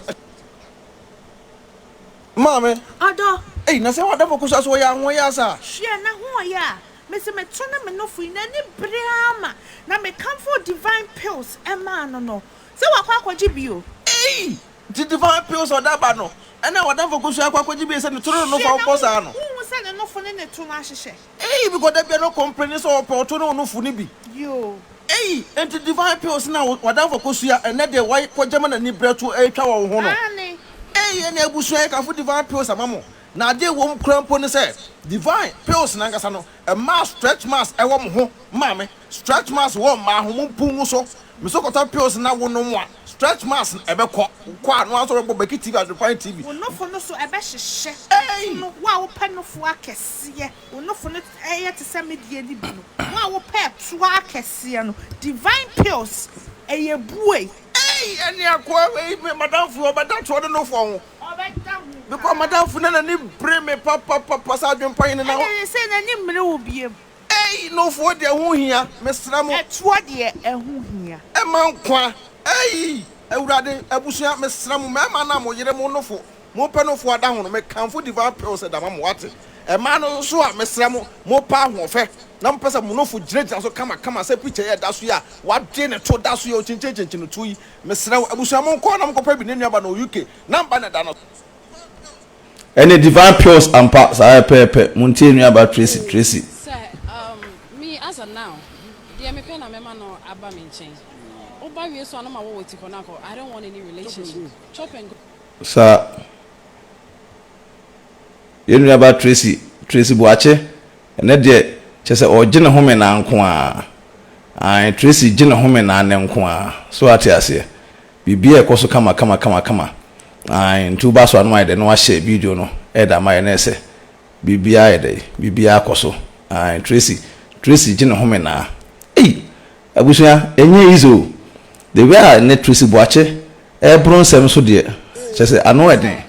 no maame Ɔdɔ. ei na sɛ w'adɔfo kɔ so a so wɔyɛ ahoɔyaa saa? Hwɛ na ho ɔyɛ a. Mese meto ne menofo yi n'ani bere ara ma na mekamfoo Divine Pills maa no no sɛ wakɔ akɔgye bio. Ei! Nti Divine Pills ɔde aba no ɛna w'adamfo kosua akɔ akɔgye bio sɛ ne to no ne nofo a wobɔ saa no? Hwɛ na wonhu sɛ ne nofo ne ne to no ahyehyɛ. Ei! Because da biara no ɔcomplaini sɛ ɔpɛ ɔto ne onofo no bi. Yoo. Ei! Nti Divine Pills na w'adamfo kosua ɛnɛ deɛ w'akɔgye ma n'ani bere atu ɛretwa wɔ wo ho no? Aane. Ei! Ɛnna abusua yɛkamfo Divine Pills ama mo. Na ade a ɛwɔ mu koraa mpo ne sɛ Divine pills no ankasa no, ɛmaa stretch marks wɔ mo ho maa me. Stretch marks wɔ mmaa ho, mo mpung so. Me so kɔtɔ pills no na wo nom a, stretch marks no ɛbɛkɔ. Wo kɔ a, na w'aso bɛbɔ Becky TV, Adwempan TV. Wo nofo no so ɛbɛhyehyɛ. Ei! Nsono, wo a wopɛ nofo akɛseɛ, wo nofo no yɛ te sɛ me deɛ no bi no, wo a wopɛ ɛtoɔ akɛseɛ no, Divine pills, ɛyɛ buei. Ei! Ɛne akoa wei, me madamfo yi, ɔbɛda toɔ ne nofo ho. Bepɔw m'adamfo na n'ani bere me papapapa sɛ adwempa hene na. Ɛne ne sɛ n'ani mmere wo bio. Ei, Nofoɔ deɛ ɛho hia, mesrɛ mo. Ɛtoɔ deɛ ɛho hia. Ɛma nkwa. Ei, Awurade, abusua, mesrɛ mo, mmarima no a mo yere, mo nofo, mopɛ nofo adahono, mekamfo Divine Pills de ama mo, wate? Mmaa no nso a, mesrɛ mo, mopɛ ahoɔfɛ, na mopɛ sɛ mo nofo gyinagyina so kamakama sɛ picture yi a ɛda so yi a wɔagye ne to da so yi a okyinkyinkyinkyin no tuo yi, Mesrɛ wo abusua mo nkɔ na mo nkɔpɛ bi ne nua ba no wɔ UK number na ɛda no so. Ɛne divine pills ampa saa yɛ pɛɛpɛ mo ntie nua ba Tracy Tracy. Sɛ um me as a now deɛ mepɛ na mɛma no aba me nkyɛn woba wie so a no ma wɔ wɔ ti hɔ no akɔ I don't want any relationship chop and go. Saa. Yɛn nuabaa Tracy, Tracy Boakye, ɛnnɛ deɛ kyerɛ sɛ ɔregye ne home nnan nko ara. Aane, Tracy regye ne home nnan nnɛ nko ara. So woate aseɛ? Biribiara rekɔ so kama kama kama kama. Aane, nti woba asɔre anɔpa ayɛ dɛn na woahyɛ video no de ama yɛn na ɛsɛ? Biribiara ayɛ dɛn? Biribiara kɔ so. Aane, Tracy, Tracy regye ne home nnan. Ei! Abusua ɛnyɛ easy o. The way a nnɛ Tracy Boakye ɛɛboro nsɛm so deɛ kyerɛ sɛ ano ɛden.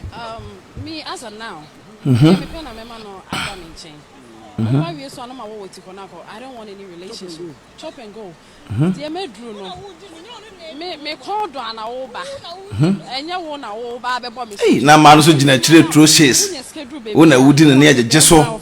Ei na mmaa no nso gyina akyire Trocy's wo na wodi no ne ɛgyegye so.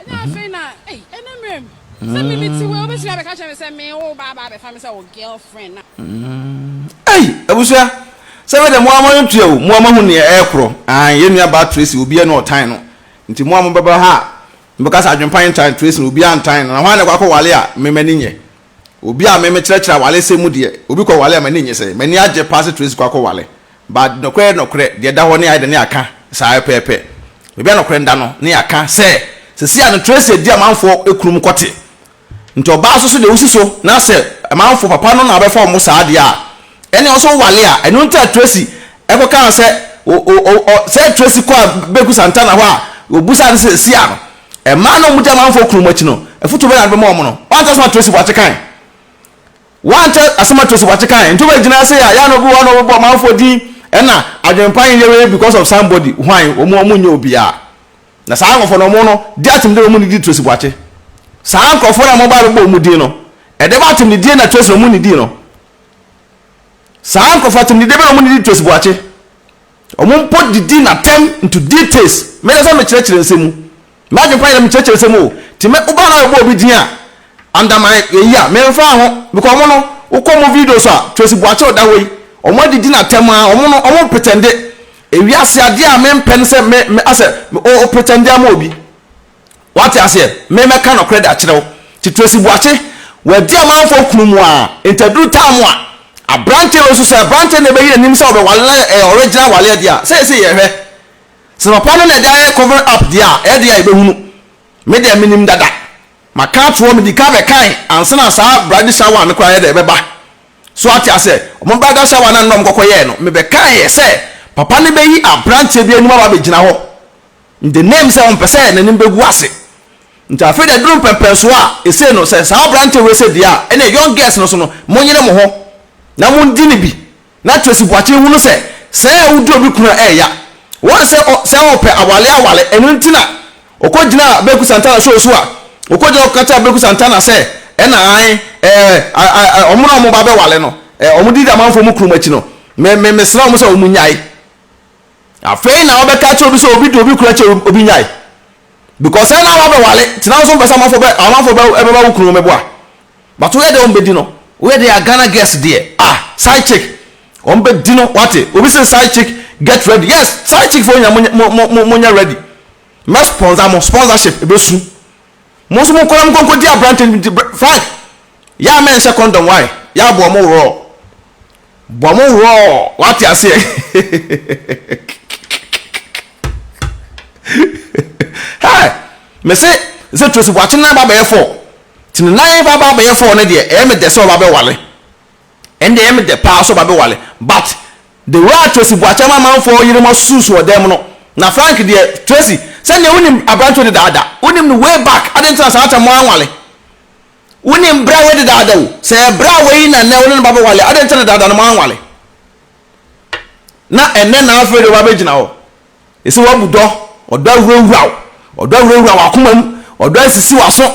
Ɛnna afei na, ei, ɛne mmerɛm. Sɛ me mete wei, wobɛtumi abɛka kyerɛ me sɛ me wo ba aba abɛfa me sɛ wo girl friend na. Ei, abusua, sɛ ɛbɛyɛ dɛ mo ara mo ani tua o, mo ara moahu nea ɛrekorɔ. Aane, yɛn nua baa Tracy, obiara ni a ɔtan no. Nti mo a mobɛba ha a, mobɛka sɛ adwempa ntan Tracy na obiara ntan no, na hwan na ɛkɔ akɔwale a me m'ani nnye? Obi a me me kyerɛkyerɛ awaresɛm mu deɛ, obi kɔ ware a m'ani nnye sɛ, m'ani agye paa sɛ Tracy kɔ akɔ ware. But nokorɛ nokorɛ deɛ ɛda hɔ ne ayɛ dɛ ne yɛaka saa pɛpɛɛpɛ. Baabi a nokorɛ da no ne yɛaka sɛ, seesei a no Tracy adi amanfoɔ kurom kɔ te. Nti ɔbaa nso so deɛ wosi so na sɛ amanfoɔ papa no na ɔbɛfa wɔn saa deɛ a, ɛneɛ ɔnso ware a, ɛno nti a Tracy ɛkɔ kaa sɛ o o o sɛ Tracy kɔ a Beku Santana hɔ a, obusaa no sɛ seesei a no Mmaa no a wɔgya amanfoɔ kunu wɔn akyi no, afotuo bɛn na wode bɛma wɔn no? Woante asɛm a Tracy Boakye kae? Woante asɛm a Tracy Boakye kae? Nti wobɛgyina se a, yɛ a na obi wɔ hɔ na ɔbɛbɔ amanfoɔ din ɛna adwenpa nyɛ wei because of somebody, hwan? Wɔn wɔn nyɛ obiara. Na saa nkorɔfoɔ no wɔn no, di atemdie na wɔn nnidi Tracy Boakye. Saa nkorɔfoɔ no a mobaa bɛbɔ wɔn din no, ɛdɛm atemdidie na Tracy na wɔn nnidii no? Saa nkorɔfoɔ atemdidie bɛn na wɔn nnidi Tracy Boakye? Wɔn mpo didi na tɛm nto details me na sɛ me kyerɛkyerɛ nsɛm mu. M'adwene pa yɛdɛ me kyerɛkyerɛ nsɛm mu o. Nti me wo ba na yɛbɔ obi din a under my yɛyi a me nfa ho because wɔn no wo kɔ wɔn videos a Tracy Boakye ɔda hɔ yi wɔn adidi na tɛm aa wɔn no wɔn pretende. Ewiase adeɛ a me mpɛ ne sɛ me me asɛ me o o pretende ama obi. Wate aseɛ? Me mɛka nɔkorɛ de akyerɛ wo. Nti Tracy Boakye, w'adi amanfoɔ kunu mu aa, nti aduru time a, abranteɛ wei nso sɛ abranteɛ na ɛbɛyi n'anim sɛ ɔbɛwale na ɛyɛ original awaleɛ deɛ a, seesei yɛhwɛ. Sɛ papa no na ɛde ayɛ cover up deɛ a, ɛdeɛ a yɛbɛhunu. Me deɛ menim dada. Maka ato hɔ, medi kan bɛkae ansa na saa bridal shower no koraa yɛdɛ ɛbɛba. So wate aseɛ? Wɔn bridal shower no a na wɔkɔkɔyɛɛ no, mebɛkaeɛ sɛ papa no bɛyi abranteɛ bi anim aba abɛgyina hɔ. In the name sɛ ɔmpɛ sɛ n'anim bɛgu ase. Nti afei deɛ aduru mpɛmpɛnsoɔ a, ɛsei no sɛ saa aberanteɛ wei sɛ deɛ a, ɛneɛ young girls no so no, monyere mo ho na mondi no bi. Na Tracy Boakye hunu sɛ sɛɛ a wodi obi kunu a ɛɛya. Wɔn sɛ ɔ, sɛ ɔɔpɛ awale awale. Ɛno nti na ɔkɔgyinaa Beku Santana show so a, ɔkɔgyina hɔ kɔka kyerɛɛ Beku Santana sɛ, ɛna ae, ɛɛ, a, a, a, wɔn a wɔba abɛwale no, ɛɛ, wɔn didi amanfoɔ mu kunu mu akyi no, me, me, mesrɛ wɔn sɛ wɔn nyae. Afei na wɔbɛka akyerɛ obi sɛ obi de obi kura kyɛ obi nyae. Because ɛna awa bɛwale nti na nso mpɛ sɛ amanfo bɛ amanfo bɛ ɛbɛba wo kunu mɛboa. But woyɛ dɛ wɔn bɛdi no. Woyɛ dɛ a Ghana girls deɛ ah side chick wɔn bɛdi no wate obi sɛ side chick get ready yes side chick foɔ nyina mo mo mo mo mo nyɛ ready mɛ sponsor mo sponsorship ɛbɛsu mo nso mo nkɔla mo nkɔnkɔ di aberante frank yɛ a mɛ nhyɛ condom why yɛ aboɔ mo worɔ. Bɔ mo hwɔɔ wate aseɛ Hey mese sɛ Tracy Boakye nan ba bɛyɛ four nti ne nan ba ba bɛyɛ four no deɛ ɛyɛ me dɛ sɛ ɔba bɛwale ɛno deɛ ɛyɛ me dɛ paa sɛ ɔba bɛwale but the way a Tracy Boakye ama amanfoɔ yerenom asusu wɔ dan mu no na Frank deɛ Tracy sɛdeɛ wonim aberanteɛ dedaada wonim no way back adɛn nti na saa kyɛ mo anwale Wonim bere a wɔadi daadaa o. Sɛ ɛyɛ bere a woayi na nnɛ wo ne no ba bɛwale a, adɛn nti na daadaa no moanwale? Na ɛnnɛ na afei deɛ woabɛgyina hɔ. Ɛsɛ woabu dɔ. Ɔdɔ awurawura wo. Ɔdɔ awurawura w'akoma mu. Ɔdɔ asisi w'aso.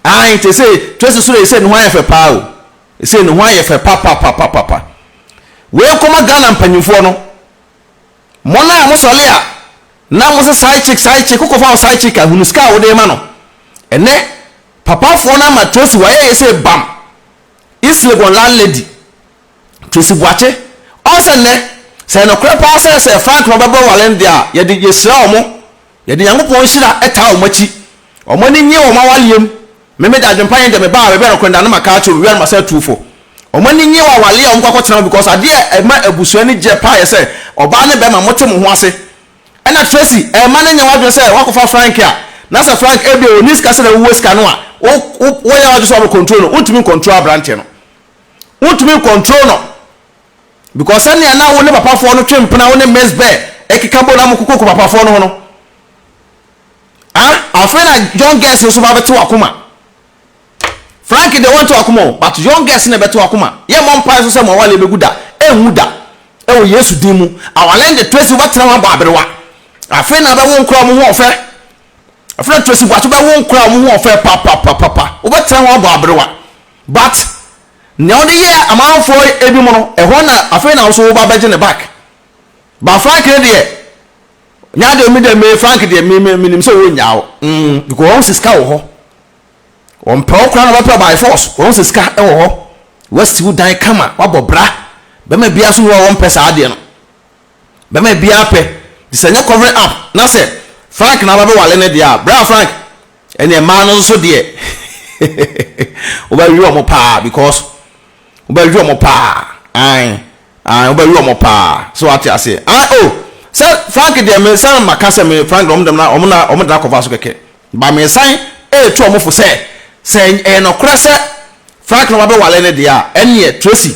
Aane, te se twa si so dɛ ɛsei ne ho ayɛ fɛ paa o. Ɛsei ne ho ayɛ fɛ papapapapapa. Wei nkɔma Ghana mpanyimfoɔ no. Mo naa mo sɔle a na mo se side chick side chick wokɔ fa wo side chick a hunu sika a wode ma no ɛnɛ papa foɔ no ama tracy wayɛ yɛ se bam east legon land lady tracy boakye ɔn sɛ nnɛ sɛ ɛnokorɛ paa sɛ sɛ frank na ɔbɛbrɛ walen deɛ a yɛde yɛhyira ɔmo Yɛde Nyankopɔn nhyira taa wɔn akyi. Wɔn ani nnye wɔn awaleɛ mu. Memeda adwempa yɛn deɛ me baa wɛbɛ rekorenda no maka akyerɛ obiara no masa atu fo. Wɔn ani nnye wɔn awaleɛ a wɔn kɔ akɔtena mu because adeɛ a ɛma abusua ani gyeɛ paa yɛ sɛ ɔbaa ne bɛɛma mote mo ho ase. Ɛna Tracy ɛmma no nyɛ wadwene sɛ wakɔfa Frank a na sɛ Frank ɛbia ɔnni sika sɛdeɛ wowɔ sika no a wo wo wonyɛ wadwene sɛ wabɛ control no wontumi ncontrol abranteɛ no wontumi ncontrol no. Because sɛnea na wo ne papafoɔ no twe mpena, wo ne Miss Bear keka bɔ na mokokoko papafoɔ no ho no, ah, afei na young girls nso ba bɛte wakoma. Frank de wɔnte wakoma o, but young girls na ɛbɛte wakoma. Yɛ mmɔ mpae nso sɛ mo awale bɛgu da, ɛnwu da. Ɛwɔ Yesu din mu. Awale de Tracy wobɛtena ho abɔ aberewa. Afei na bɛwo nkora wɔn ho ɔfɛ. Afei na Tracy Boakye bɛwo nkora wɔn ho ɔfɛ papapapapa. Wobɛtena ho abɔ aberewa. But Nea ɔde yɛɛ amanfoɔ ebinom no, ɛhɔ na afei na wo nso woba bɛgye no back. But Frank no deɛ, nya deɛ me deɛ me Frank deɛ me me menim sɛ ɔnnya wo. Mm, because wɔn sɛ sika wɔ hɔ. Wɔmpɛ wo koraa na wɔbɛpɛ by force. Wɔn sɛ sika wɔ hɔ. Wasi wo dan kama, wabɔ bra. Bɛma biara so ni hɔ a wɔmpɛ saa adeɛ no. bɛma biaa pɛ nti sɛ nyɛ covering up na sɛ Frank na wabɛwale no deɛ a bra Frank ɛneɛ mmaa no nso deɛ wobɛwe wɔn paa because wobɛwe wɔn paa ae ae wobɛwe wɔn paa so wate aseɛ ae o sɛ Frank deɛ me san ma ka sɛ me Frank deɛ wɔn dɛm na wɔn na wɔn dena cover so kɛkɛ ba me san ɛɛtu wɔn fo sɛ sɛ ɛyɛ nɔkorɛ sɛ Frank na wabɛwale no deɛ a ɛneɛ Tracy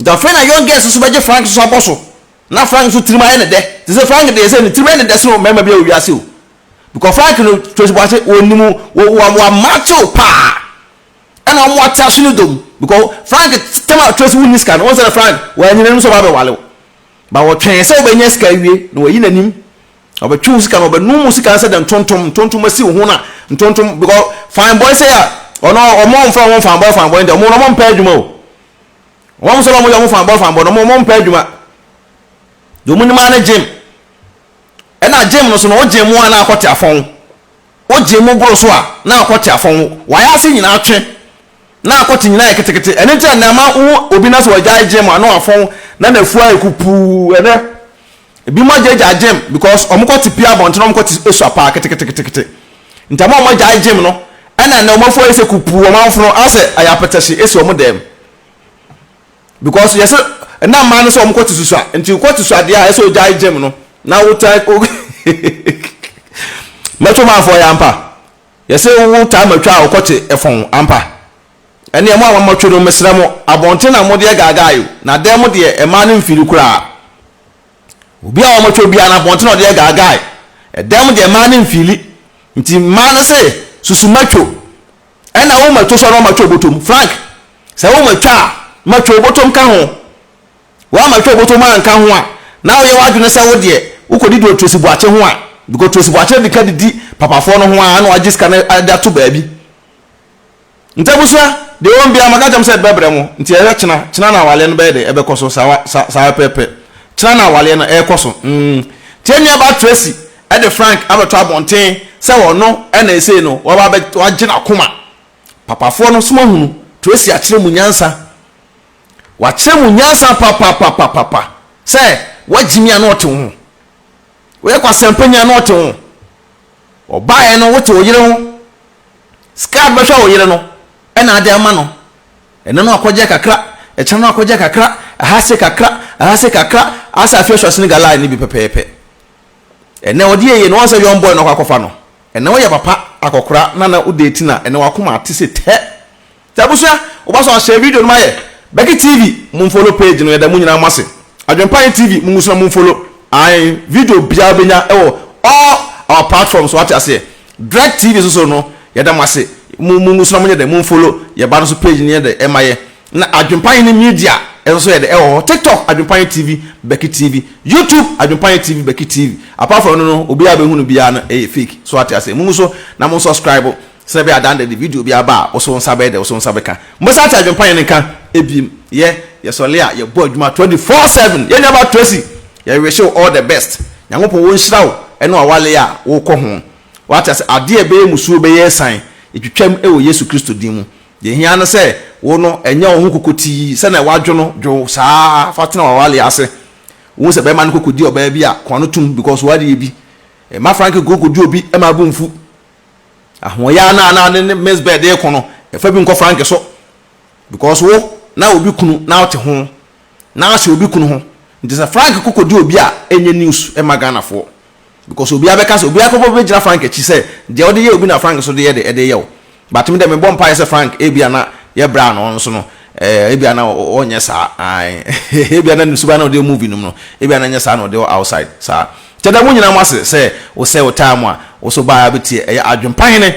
Nti afei na Young Girls nso bɛgye Frank nso abɔ so na Frank nso tirim ayɛ no dɛ te sɛ Frank deɛ sɛ ne tirim yɛ no dɛ sene mmarima biara wɔ wiase o because Frank no Tracy Boase wɔnim wɔamakye wo paa ɛna wɔn ate aso ne dom because Frank tɛm a Tracy wonni sika no wɔn sɛ Frank wɔanyina anim sɛ ɔba bɛwale wo ba wɔtwɛn sɛ wɔbɛnya sika awie na wɔayi n'anim ɔbɛtwe wo sika no ɔbɛnum wo sika no sɛ dɛ ntontom ntontom asi wo ho na ntontom because fine boy sɛ a ɔno ɔmo ɔmfa wɔn fine boy fine boy ntɛ ɔmo na ɔmo mpɛ adwuma o Wɔn nso na wɔyɛ wɔn fanbɔ fanbɔ no, wɔn wɔn mpɛ adwuma. Deɛ wɔn nim ara ne gym. Ɛna gym no so no, wo gym mu a na akɔte afɔn. Wo gym mu boro so a na akɔte afɔn. Wayɛ ase nyinaa twe. Na akɔte nyinaa yɛ ketekete. Ɛno nti a na ɛma wo obi na sɛ wagyae gym a na wafɔn na n'afua ayɛ kupuu. Ɛnɛ. Ebinom agyaagyaa gym because wɔkɔ te pia abɔnten na wɔkɔ te esua paa keteketekete. Nti ama wɔn agyae gym no ɛna ɛnɛ wɔn afo ayɛ sɛ kupuu wɔn ahofono ayɛ sɛ ɛyɛ apɛtɛhye esi wɔn dɛm. Because yɛse ɛna mmaa no sɛ wɔkɔ te susua nti wokɔ te sua deɛ a ɛsɛ ogyae gym no na wotaa mɛtwo maafoɔ yɛ ampa yɛse wotaa matwa a wokɔ te ɛfɔn ampa. Ɛneɛ mo a moammatwe no, mesrɛ mo, abɔnten na mode agaagaa yo, na dan mu deɛ, mmaa no mfiri koraa. Obi a wɔammatwe biara no, abɔnten na ɔde agaagae, dan mu deɛ, mmaa no mfiri. Nti mmaa no se, Susu matwo. Ɛna wo matwo so a na wɔammatwe obotom. Frank, sɛ wo matwa a, matwe obotom ka ho. Woammatwe obotom anka ho a, na woyɛ w'adwene sɛ wo deɛ, wokɔdi deɛ Tracy Boakye ho a, because Tracy Boakye adi ka didi papafoɔ no ho ara na wagye sika no de ato baabi. Nti abusua, deɛ ɔwɔ mu biara maka kyɛm sɛ bɛbrɛ mo, nti yɛhwɛ kyena, kyena na awaleɛ no bɛyɛ dɛ ɛbɛkɔ so, saa, saa, saa pɛpɛpɛ, kyena na awaleɛ no ɛrekɔ so, mm, nti yɛn nua baa Tracy ɛde Frank abɛto abɔnten sɛ ɔno ɛna ɛsei no waba abɛ, wagye n'akoma, papafoɔ no nso moahunu, Tracy akyerɛ mu nyansa, wakyerɛ mu nyansa papapapapapa, sɛ woagye mi a na ɔte wo ho, woyɛ kwasɛmpa ni a na ɔte wo ho, Ɔbaeɛ no wote wo yere ho. Sika a wode bɛhwɛ wo yere no na ade ama no. Ɛnɛ no akɔgyeɛ kakra, ɛkyena no akɔgyeɛ kakra, ɛha se kakra, ɛha se kakra, asa afei ɔhyɛ ɔsene galai no bi pɛpɛɛpɛ. Ɛnɛ ɔde yɛ yie no, ɔnsɛ young boy na ɔkɔ akɔfa no. Ɛnɛ woyɛ papa akɔkora na na wode ti na ɛnɛ wakoma ate se tɛ. Nti abusua woba so a share video no ma yɛ Becky TV mo nfollow page no yɛda mo nyinaa mo ase Adwenpa yɛn TV mo ngusua mo nfollow ae video biaa wobɛnya wɔ all our platforms so wate aseɛ Drek TV so so no yɛda mo ase mo mo ngusua mo nyɛ dɛ mo nfollow yɛ ba no so page no yɛ dɛ ɛma yɛ na Adwenpa yɛn ne media nso so yɛ dɛ ɛwɔ hɔ TikTok Adwenpa yɛn TV Becky TV YouTube Adwenpa yɛn TV Becky TV apart from ɛno no obiaa bɛhunu biaa no ɛyɛ fake so wate aseɛ mo nguso na mo subscribe Sɛ bɛyɛ adan dɛ de video bi aba a, wo so wo nsa bɛyɛ dɛ, wo so wo nsa bɛka. Mobɛsan ate adwempa yɛn nka ebiem. Yɛ, yɛsɔle a, yɛbɔ adwuma 24 seven. Yɛn nuaba Tracy, yɛ wish wo all the best. Nyankopɔn wo nhyira wo ɛne w'awale a wo kɔ ho. W'ate ase, adeɛ ɛbɛyɛ musuo bɛyɛ ɛsan. Yɛtwitwam ɛwɔ Yesu Kristo din mu. Deɛ ɛhia ara ne sɛ wo no ɛnyɛ wo ho kokotii sɛdeɛ wadwo no, dwo wo saa fa tena w'awale ase. Wohu sɛ bɛɛma no kɔ kɔdi ɔbaa bi a, kɔn ano tum because w'adeɛ bi. Mma Frank nkɔ kɔdi obi ɛma abu mfu. Ahoɔyaa no a na ne ne Miss Bird reko no, fa bi nkɔ Frank so. Because wo, na obi kunu na wote ho, na ahyɛ obi kunu ho. Nti sɛ Frank ko kɔdi obi a, ɛnyɛ news mma Ghanafoɔ. Because obiara bɛka sɛ, obiara bɛkɔ bɛgyina Frank akyi sɛ, deɛ wode yɛ obi na Frank nso de yɛ de, de yɛ wo. But me deɛ mebɔ mpaeɛ sɛ Frank ebia na yɛbra no nso no, eh, ebia na ɔnyɛ saa, ae, ebia na ne suban na ɔde yɛ movie nom no, ebia na ɛnyɛ saa na ɔde yɛ outside saa. Gyada mo nyinaa mo ase sɛ wo sɛ wo taa mo a wo so baa bɛ tie ɛyɛ adwen pa hene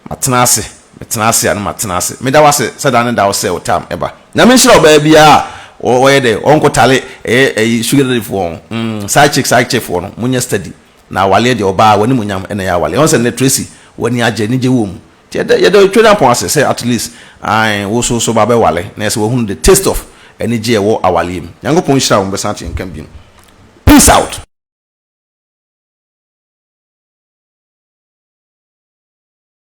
ma tena ase me tena ase a no ma tena ase me da wo ase sɛ da ne da wo sɛ wo taa mo ɛba nyame nhyira ɔbaa biaa a wɔ yɛ dɛ ɔn kɔ tale ɛyɛ ɛyi sugar daddy foɔ ɔn mm side chick side chick foɔ no mo nyɛ steady na awaleɛ deɛ ɔbaa w'animuonyam ɛna ɛyɛ awaleɛ ɔn sɛ nnɛ Tracy w'ani agye anigye wɔ mu Yɛda yɛda otwa Nyankopɔn ase sɛ at least ae wo so so ba bɛ wale na ɛsɛ wahunu the taste of anigye ɛwɔ awaleɛ mu. Nyankopɔn nhyira wo mɛsan ate nka biom. Peace out.